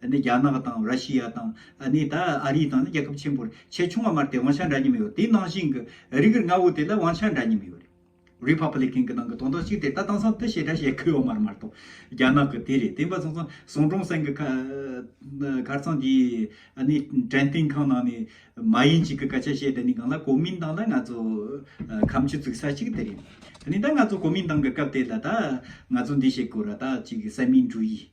ནི་རྒྱ་ནག་དང་ར་ཤི་ཡ་དང་ནི་ད་ཨ་རི་དང་ནི་རྒྱལ་ཁབ་ཆེན་པོར་ཆེས་ཆུང་བ་མར་དེ་དབང་ཆ་འདྲ་མཉམ་ཡོད་དེའི་ནང་བཞིན་གྱི་རིགས་རིགས་ལྔ་བོ་དེ་ལ་དབང་ཆ་འདྲ་མཉམ་ཡོད་རེད Republican གྱི་ནང་གི་དོན་དག་ཅིག་དེ་ད་དེང་སང་དེ་བྱེད་འདྲ་བྱེད་གི་ཡོད་མ་རེད་མ་གཏོགས་རྒྱ་ནག་གི་དེ་རེད་དེ་འབའ་ཚང་ཚང་ཟུང་དྲུང་སེང་གི་ཁར་ཚང་དེའི་ནི་དྲན་རྟེན་ཁང་ནང་ནས་མ་ཡིན་ཅིག་གི་སྐད་ཆ་བཤད་དེ་ནི་གང་ལ་གོ་མིན་ཏང་ལ་ང་ཚོ་ཁམས་ཆུ་བཙུགས་ས་ཅིག་དེ་རེད་དེ་ནི་ད་ང་ཚོ་གོ་མིན་ཏང་གི་སྐབས་དེ་ལ་ད་ང་ཚོ་འདི་བྱེད་དགོས་ར་ད་ཅིག་གི་གསལ་མིན་འགྲུ་ཡིས།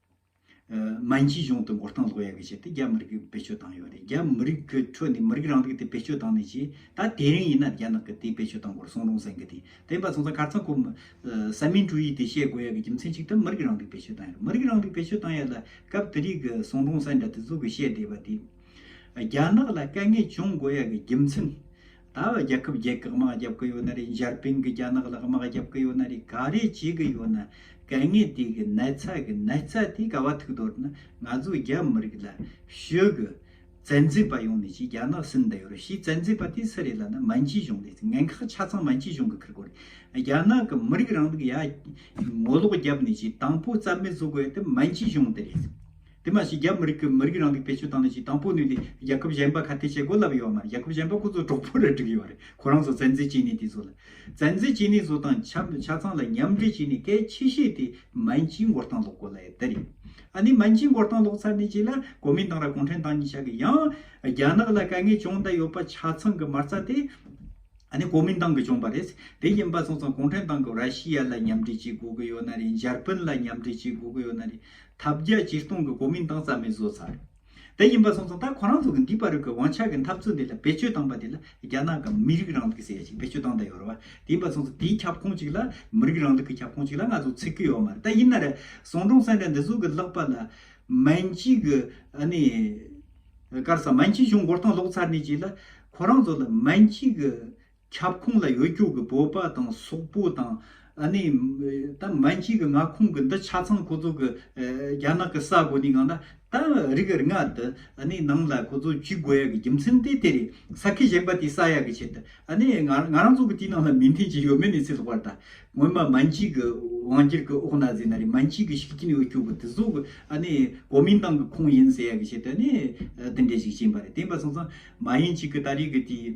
སྨན་སྐྱིད་གཞུང་དུ་འགོར་ཐང་ལོག་ཡ་གི་བྱས་ཏེ་རྒྱ་མི་རིགས་བེད་སྤྱོད་བཏང་ཡོད་རེད་རྒྱ་མི་རིགས་ཀྱི་ཁྲོད་ནས་མི་རིགས་རང་རིགས་དེ་བེད་སྤྱོད་བཏང་ནས་ཀྱི་ད་དེ་རིང་ཡིན་ན་རྒྱ་ནག་གི་དེ་བེད་སྤྱོད་བཏང་གོ་རེ་སོང་རུང་ཟེར་གི་དེ་དེ་འབའ་ཚང་ཚང་གར་ཚང་ཁོ་སཱ་མིན་ཀྲུའུ་ཡིས་དེ་བཤད་དགོས་ཡ་གི་རྒྱུ་མཚན་གཅིག་ད་མི་རིགས་རང་རིགས་བེད་སྤྱོད་བཏང་ཡ་རེད་མི་རིགས་རང་རིགས་བེད་སྤྱོད་བཏང་ཡ་ལ་སྐབས་དེ་རིགས་གི་སོང་རུང་ཟེར་འདྲ་དེ་ཚུག་གི་བཤད་བསྡད་པ་དེ་རྒྱ་ནག་ལ་དཀའ་ངལ་བྱུང་དགོས་ཡ་གི་རྒྱུ་མཚན། ད་བར་རྒྱལ་ཁབ་བརྒྱད་ཀྱི་དམག་རྒྱབ་ཀྱི་ཡོད་ན་རེད་འཇར་པིན་གྱི་རྒྱ་ནག་ལ་དམག་རྒྱབ་ཀྱི་ཡོད་ན་རེད་ག་རེ་བྱེད་ཀྱི་ཡོད་ན་གལ་ངེས་དེ་གི་ནད་ཚ་གི་ནད་ཚ་དེ་ག་བ་ཐུག་དོར་ན་ང་ཚོ་རྒྱ་མི་རིགས་ལ་ཤོད་གི་བཙན་འཛུལ་པ་ཡོང་ནི་ཅི་རྒྱ་ནག་སུན་འདི་ཡོད་རོ་ཤི་བཙན་འཛུལ་པ་དེ་སུ་རེད་ལ་ན་མན་ཇི་ཞུང་རེད་ངན་ཁག་ཆ་ཚང་མན་ཇི་ཞུང་གི་ཁུར་གོ་རེད་རྒྱ་ནག་གི་མི་རིགས་རང་ལུགས་ཡ་ངོ་ལོག་རྒྱབ་ནི་ཅི་དང་པོ་རྩ་མེད་བཟོ་དགོས་དེ་མན་ཇི་ཞུང་དེ་རེད་དེ་མ་ཞིག་རྒྱ་མི་རིགས་ཀྱི་མི་རིགས་རང་ལུས་བེད་སྤྱོད་བཏང་ནས་ཞིག་དང་པོ་ནུས་ཏེ་རྒྱལ་ཁབ་གཞན་པ་ཁ་ཐེ་བྱེད་དགོས་ལབ་ཡོད་མ་རེད་རྒྱལ་ཁབ་གཞན་པ་ཁོ་ཚོ་གྲོགས་པོ་རེད་བསྒྲིགས་ཡོད་རེད་ཁོ་རང་ཚོ་བཙན་འཛུལ་བྱས་ནས་དེ་ཚོ་ལ་བཙན་འཛུལ་བྱས་ནས་བཟོ་དང་ཆ་ཆ་ཚང་ལ་མཉམ་འབྲེལ་བྱས་ནས་སྐད་ཆེ་བཤད་དེ་མན་ཇིའི་མགོ་རྟང་སློག་དགོས་ལ་ཡད་དེ་རེད་ཨ་ནི་མན་ཇིའི་མགོ་རྟང་སློག་ཚར་ནས་ཅིག་ལ་གོ་མིན་ཏང་ར་གུང་ཁྲན་ཏང་གཉིས་ཆགས་གི་ཡང་རྒྱ་ནག་ལ་དཀའ་ངལ་ཅུང་འད་ཡོད་པ་ཆ་ཚང་གི་མ་རྩ་དེ་ཨ་ནི་གོ་མིན་ཏང་གི་བྱུང་པ་རེད་དེ་ཡིན་པ་སོང་ཙང་གུང་ཁྲན་ཏང་གི་ར་ཤི་ཡ་ལ་མཉམ་འབྲེལ་བྱེད་དགོས་གི་ཡོད་ན་རེད་འཇར་པན་ལ་མཉམ་འབྲེལ་བྱེད་དགོས་གི་ཡོད་ན་རེད་ཐབས་བརྒྱ་ཇུས་སྟོང་གི་གོ་མིང་བཏང་རྩ་མེད་བཟོ་ཚར་དེ་ཡིན་པ་སོང་ཙང་ད་ཁོ་རང་ཚོ་གི་འདི་པ་རུ་གི་དབང་ཆ་གི་འཐབ་རྩོད་འདི་ལ་བེད་སྤྱོད་བཏང་པ་དེ་ལ་རྒྱ་ནག་གི་མི་རིགས་རང་ལུགས་ཀྱི་ཟེར་ཡ་ཞིག་བེད་སྤྱོད་བཏང་དང་ཡོད་རེད་བ་དེ་ཡིན་པ་སོང་ཙང་དེའི་ཁྱབ་ཁོངས་ཅིག་ལ་མི་རིགས་རང་ལུགས་ཀྱི་ཁྱབ་ཁོངས་ཅིག་ལ་ང་ཚོ་ཚིག་གི་ཡོད་མ་རེད་ད་ཡིན་ན་རེ་ཟོང་འབྲོང་སེང་འདྲ་འདི་ཟུག་གི་ལག་པ་ལ་མན་ཇི་གི་ཨ་ནི་དཀར་ས་མན་ཇི་གཞུང་མགོར་ཐང་ལོག་ཚར་ནས་ཅིག་ལ་ཁོ་རང་ཚོ་ལ་མན་ཇི་གི་ཁྱབ་ཁོངས་ལ་ཡོད་སྐྱོ་གི་བོད་པ་དང་སོག་པོ་དང་ཨ་ནི་ད་མན་གཅིག་གི་མངའ་ཁོངས་གི་འདི་ཆ་ཚང་ཁོ་ཚོ་གི་རྒྱ་ནག་གི་ས་གོ་ནི་གང་ན་ད་རིགས་རིགས་ལྔ་དེ་ཨ་ནི་ནང་ལ་ཁོ་ཚོ་ཇུས་འགོ་ཡ་གི་རྒྱུ་མཚན་དེ་དེ་རེད་ས་ཁི་གཞན་པ་དེ་ས་ཡ་གི་ཆེད་དུ་ཨ་ནི་ང་ང་རང་ཚོ་གི་དེ་ནང་ལ་མི་མཐུན་གྱི་ཡོད་མེད་ནི་ཚིག་ལྷག་པར་ད་ངོ་མ་མན་གཅིག་གི་དབང་སྒྱུར་གི་འོག་ན་ཟིན་ན་རེད་མན་གཅིག་གི་ཤུགས་རྐྱེན་ཡོད་སྐྱོ་གི་དེ་ཚོ་གི་ཨ་ནི་གོ་མིན་ཏང་གི་ཁོངས་ཡིན་ཟེར་ཡ་གི་ཆེད་དུ་ཨ་ནི་དེ་འདྲས་ཞིག་བྱིན་པ་རེད་དེ་པ་སོང་ཙང་མ་ཡིན་གཅིག་གི་ད་རིགས་གི་དེ།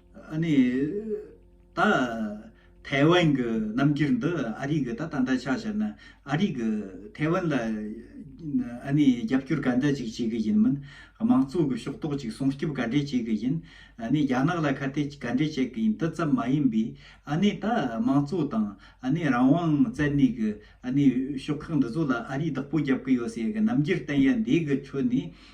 ནི། ད་ཐའེ་ཝན་གྱི་རྣམ་འགྱུར་འདི་ཨ་རིས་གི་ད་ད་འདྲ་ཆགས་བྱས་ན་ཨ་རིས་གི་ཐའེ་ཝན་ལ་ནི་རྒྱབ་སྐྱོར་ག་འདྲ་ཅིག་བྱེད་གི་ཡིན་མིན་དམངས་གཙོ་གི་ཕྱོགས་གཏོགས་ཅིག་སྲུང་སྐྱོབ་ག་འདྲས་བྱེད་གི་ཡིན་ནི་རྒྱ་ནག་ལ་ཁ་གཏད་ག་འདྲས་བྱེད་གི་ཡིན་འདི་ཙམ་མ་ཡིན་པའི་ནི་ད་དམངས་གཙོ་དང་ནི་རང་དབང་བཙལ་ནས་གི་ནི་ཕྱོགས་ཁག་འདི་ཚོ་ལ་ཨ་རིས་བདག་པོ་རྒྱབ་གི་ཡོད་ཟེར་གི་རྣམ་འགྱུར་བསྟན་ཡ་འདས་གི་ཁྲོད་ནས།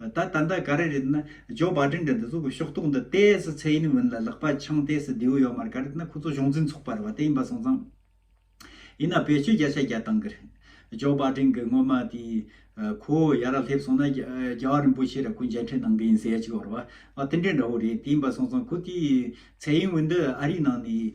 ད་ད་ལྟ་ག་རེ་རེད་ན་ཇོ་བཱ་ཏྲིན་དེ་འདི་ཚོ་གི་ཤོག་ཐོག་འདི་ལྟའི་སི་ཚེ་ཡིན་མིན་ལ་ལག་པ་འཆང་ལྟའི་སི་རྡེའུ་ཡོད་མ་རེད་ག་རེ་ད་ན་ཁོ་ཚོ་གཞུང་འཛིན་ཚོགས་པ་རེད་བ་དེ་ཡིན་པ་སོང་ཙང། ཡིན་ན་བེད་སྤྱོད་བརྒྱ་ཆ་བརྒྱ་བཏང་གི་རེད། ཇོ་བཱ་ཏྲིན་གི་སྔོན་མ་དེ་ཁོ་བོ་ཡར་ར་སླེབས་སོང་ན་རྒྱ་བ་རིན་པོ་ཆེ་ར་ཁོ་མཇལ་འཕྲད་གནང་གི་ཡིན་ཟེར་ཡ་ཅིག་བ་རེད་བ། བ་དེ་འདྲའི་འདྲ་བོ་རེད་དེ་ཡིན་པ་སོང་ཙང་ཁོ་དེའི་ཚེ་ཡིན་མིན་འདི་ཨ་རིའི་ནང་ནས།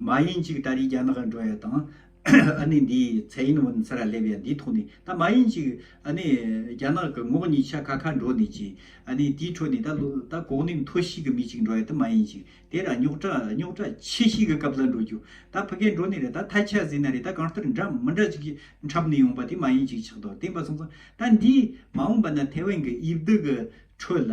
མ་ཡིན་ཅིག་ད་རེས་རྒྱ་ནག་འགྲོ་ཡ་དང། ཨ་ནི་འདི་ཚའེ་ཡིན་ཝུན་ཚ་ར་སླེབས་ཡ་འདི་ཐོག་ནས་ད་མ་ཡིན་ཅིག་ཨ་ནི་རྒྱ་ནག་གི་ངོགས་གཉིས་ཆ་ཁ་ཁ་འགྲོ་ནས་ཅིག་ཨ་ནི་དེའི་ཁྲོད་ནས་ད་ད་གོག་ནས་མཐོ་ཤིས་ཀྱི་མི་ཅིག་འགྲོ་ཡ་དེ་མ་ཡིན་ཅིག་དེ་ར་རྙོག་དྲ་རྙོག་དྲ་ཆེ་ཤིས་ཀྱི་སྐབས་ལ་འགྲོ་རྒྱུ་ད་ཕི་གས་འགྲོ་ནས་རེད་ད་ཐ་ཆ་ཟིན་ན་རེད་ད་གང་ལྟར་འདྲ་མི་འདྲ་ཅིག་འཁྲབ་ནས་ཡོང་པ་དེ་མ་ཡིན་ཅིག་ཆགས་འདུག་བསྟན་པ་སོང་ཙང་ད་འདིས་མ་འོངས་པ་ན་ཐའེ་ཝན་གྱི་དབྱིབས་སྡུག་གི་ཁྲོད་ལ།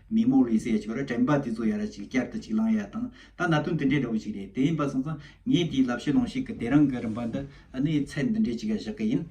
མི་མོ་ལུས་སའི་ཆོས་ར་དྲན་པ་དེ་ཚོ་ཡ་ར་ཅིག་བསྐྱར་དུ་ཅིག་བླངས་ཡ་དང་ད་ན་དོན་དེ་འདྲའི་འདྲ་བོ་ཅིག་རེད་དེ་ཡིན་པ་སོང་ཙང་ངས་དེའི་ལབ་ཤེས་ལོང་ཤེས་ཀྱི་དེ་རང་གི་རིམ་པ་འདི་ཨ་ནི་ཚད་འདི་འདྲའི་ཅིག་ཡ་བཞག་གི་ཡིན།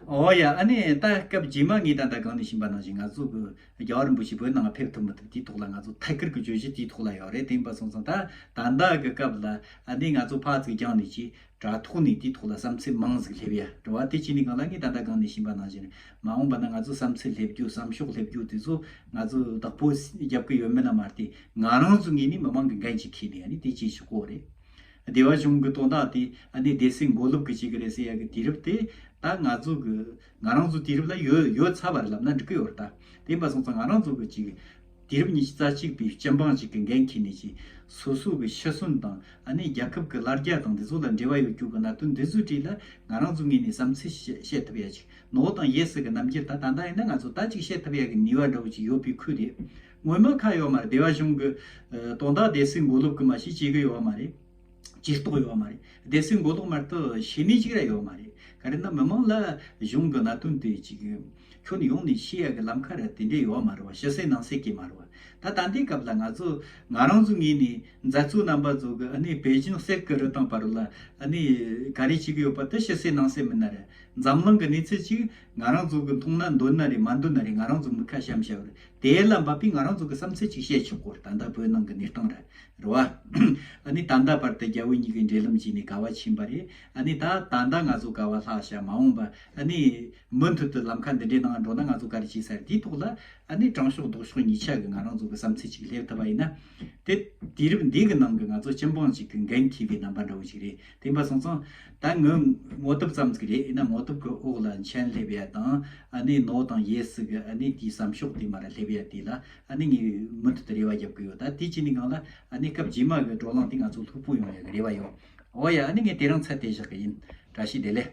འོ་ཡ་ཨ་ནི་ད་སྐབས་རྗེས་མ་ངས་ད་ལྟ་གང་ནས་ཕྱིན་པ་ནང་བཞིན་ང་ཚོ་གི་རྒྱ་གར་རིན་པོ་ཆེ་བོད་ནང་ལ་ཕེབས་ཐུབ་མི་ཐུབ་དེའི་ཐོག་ལ་ང་ཚོ་ཐད་ཀར་གྱི་བརྗོད་གཞི་དེའི་ཐོག་ལ་ཡོད་རེད་དེ་ཡིན་པ་སོང་ཙང་ད་ད་ལྟ་གི་སྐབས་ལ་ཨ་ནི་ང་ཚོ་ཕག་ཚིག་རྒྱང་ནས་ཅིག་དྲ་ཐོག་ནས་དེའི་ཐོག་ལ་བསམ་ཚུལ་མང་ཟིག་སླེབས་ཡ་དྲ་བ་དེ་ཅི་ནས་གང་ལ་ངས་ད་ལྟ་གང་ནས་ཕྱིན་པ་ནང་བཞིན་མ་འོངས་པ་ན་ང་ཚོ་བསམ་ཚུལ་སླེབས་རྒྱུ་བསམ་ཤོག་སླེབས་རྒྱུ་དེ་ཚོ་ང་ཚོ་བདག་པོ་རྒྱབ་ཀྱི་ཡོད་མེད་ལ་མ་བལྟས་ང་རང་ཚོ་ངེད་ནི་མི་མང་གི་འགན་གཅིག་ཁེལ་ནས་ཡ་ནི་དེ་བྱེད་ཆོག་གོ་རེད། སྡེ་བ་གཞུང་གི་དོན་དག་དེ་ཨ་ནེ་སྡེ་སྲིད་མགོ་ལོག་གིས་བྱེད་གི་རེད་ཟེར་ཡ་གི་དུས་རབས་དེ་ད་ང་ཚོ་གི་ང་རང་ཚོ་དུས་རབས་ལ་ཡོད་ཡོད་ཚར་བ་རེད་ལབ་ན་འགྲིག་གི་ཡོད་རེད་ད་དེ་ཡིན་པ་སོང་ཙང་ང་རང་ཚོ་གི་གཅིག་དུས་རབས་ཉི་ཤུ་རྩ་གཅིག་པའི་སྤྱི་འབངས་གཅིག་གི་འགན་འཁྱེར་ནས་ཀྱི་སོ་སོ་གི་ཤི་གསོན་དང་ཨ་ནེ་རྒྱལ་ཁབ་ཀྱི་ལར་རྒྱ་དང་འདི་ཚོ་ལ་འབྲེལ་བ་ཡོད་རྒྱུ་གི་གནད་དོན་འདི་ཚོའི་གྲས་ལ་ང་རང་ཚོ་ངེས་ནས་བསམ་ཚུལ་ཞིག་བཤད་ཐུབ་ཡ་གཅིག་ནོ་དང་ཡེ་སི་གི་རྣམ་འགྱེར་ད་ད་ལྟ་ཡིན་ན་ང་ཚོ་ད་གཅིག་བཤད་ཐུབ་ཡ་གི་ནུས་བ་འདྲ་བོ་ཅིག་ཡོད་པའི་ཁུལ་རེད་ངོ་མ་ཁ་ཡོད་མ་རེད་སྡེ་བ་གཞུང་གི་དོན་དག་དེ་སིའི་འགོ་ལུག་གི་མ་ཞིག་བྱེད་གི་ཡོད་བ་མ་རེད། ཇུས་གཏོགས་ཡོད་མ་རེད་སྡེ་སྲིད་མགོ་ལོག་མར་དུ་བྱེད་ནུས་ཅིག་ར་ཡོད་མ་རེད་ག་རེ་ན་མི་མང་ལ་གཞུང་གི་གནད་དོན་དེ་ཅིག་ཁྱོན་ཡོངས་ནས་ཤེས་ཡ་གི་ལམ་ཁ་ར་དེ་འདྲས་ཡོད་མ་རེད་བ་ཕྱི་གསལ་ནང་གསལ་གྱི་མ་རེད་བ་ད་ད་འདའི་སྐབས་ལ་ང་ཚོ་ང་རང་ཚོ་ངེས་ནས་མཛའ་གཙུག་རྣམ་པ་ཚོ་གི་ཨ་ནི་བེ་ཅིན་གསེར་གི་རི་དང་བ་རུ་ལ་ཨ་ནི་ག་རེ་ཅིག་ཡོད་པ་དེ་ཕྱི་གསལ་ནང་གསལ་མིན་ན་རེད་འཛམ་གླིང་གི་གནས་ཚུལ་ཅིག་ང་རང་ཚོ་གི་མཐོང་ན་འདོད་ན་རེད་མ་འདོད་ན་རེད་ང་རང་ཚོ་མི་ཁ་བྱམས་བྱ་བར་དེའི་བླ་འབབ་པས་ང་རང་ཚོ་གི་བསམ་ཚུལ་ཅིག་བཤད་ཆོག་གོ་ད་ལྟ་བོད་ནང་གི་གནས་སྟངས་རེད་བ། ཨ་ནི་ད་ལྟ་བར་དུ་རྒྱ་བོད་གཉིས་ཀྱི་འབྲེལ་ལམ་བརྗེས་ནས་དགའ་བ་ཕྱིན་པ་རེད་ཨ་ནི་ད་ད་ལྟ་ང་ཚོ་དགའ་བ་ལྷག་བྱ་མ་འོངས་པ་ཨ་ནི། མུ་མཐུད་དུ་ལམ་ཁ་འདི་འདྲའི་ནང་འགྲོ་ན་ང་ཚོ་ག་རེ་བྱེད་ས་རེད་དེའི་ཐོག་ལ་ཨ་ནི་དྲང་ཕྱོགས་ལྡོག་ཕྱོགས་གཉིས་ཆ་གི་ང་རང་ཚོ་གི་བསམ་ཚུལ་ཅིག་སླེབས་ཐུབ་པ་ཡིན་ན། དེ་དུས་རིམ་འདི་གི་ནང་གི་ང་ཚོ་སྤྱི་འབངས་ཅིག་གི་འགན་འཁྱེར་བའི་རྣམ་པ་འདྲ་བོ་ཅིག་རེད། དེ་འབའ་སོང་ཙང་ད་ངུ་ངོ་དུབ་ཙམ་ཙིག་རེད་ཨ་ན་ངོ་དུབ་གི་འོག་ལ་མཆན་སླེབས་ཡ་དང་ཨ་ནས་ནོ་དང་ཡེ་སི་གི་ཨ་ནས་དེའི་བསམ་ཤོག་དེ་མ་ར་སླེབས་ཡ་དེ་ལ་ཨ་ནས་ངའི་མུ་མཐུད་དུ་རེ་བ་རྒྱབ་གི་ཡོད་ད་དེ་བྱས་ནས་གང་ལ་ཨ་ནས་སྐབས་རྗེས་མ་གི་བགྲོ་གླང་དེ་ང་ཚོ་ལྷུག་པོ་ཡོང་ཡ་གི་རེ་བ་ཡོད་འོ་ཡ་ཨ་ནས་ངས་དེ་རང་ཚད་དེ་བཞག་གི་ཡིན་བཀྲ་ཤིས་བདེ་ལེགས།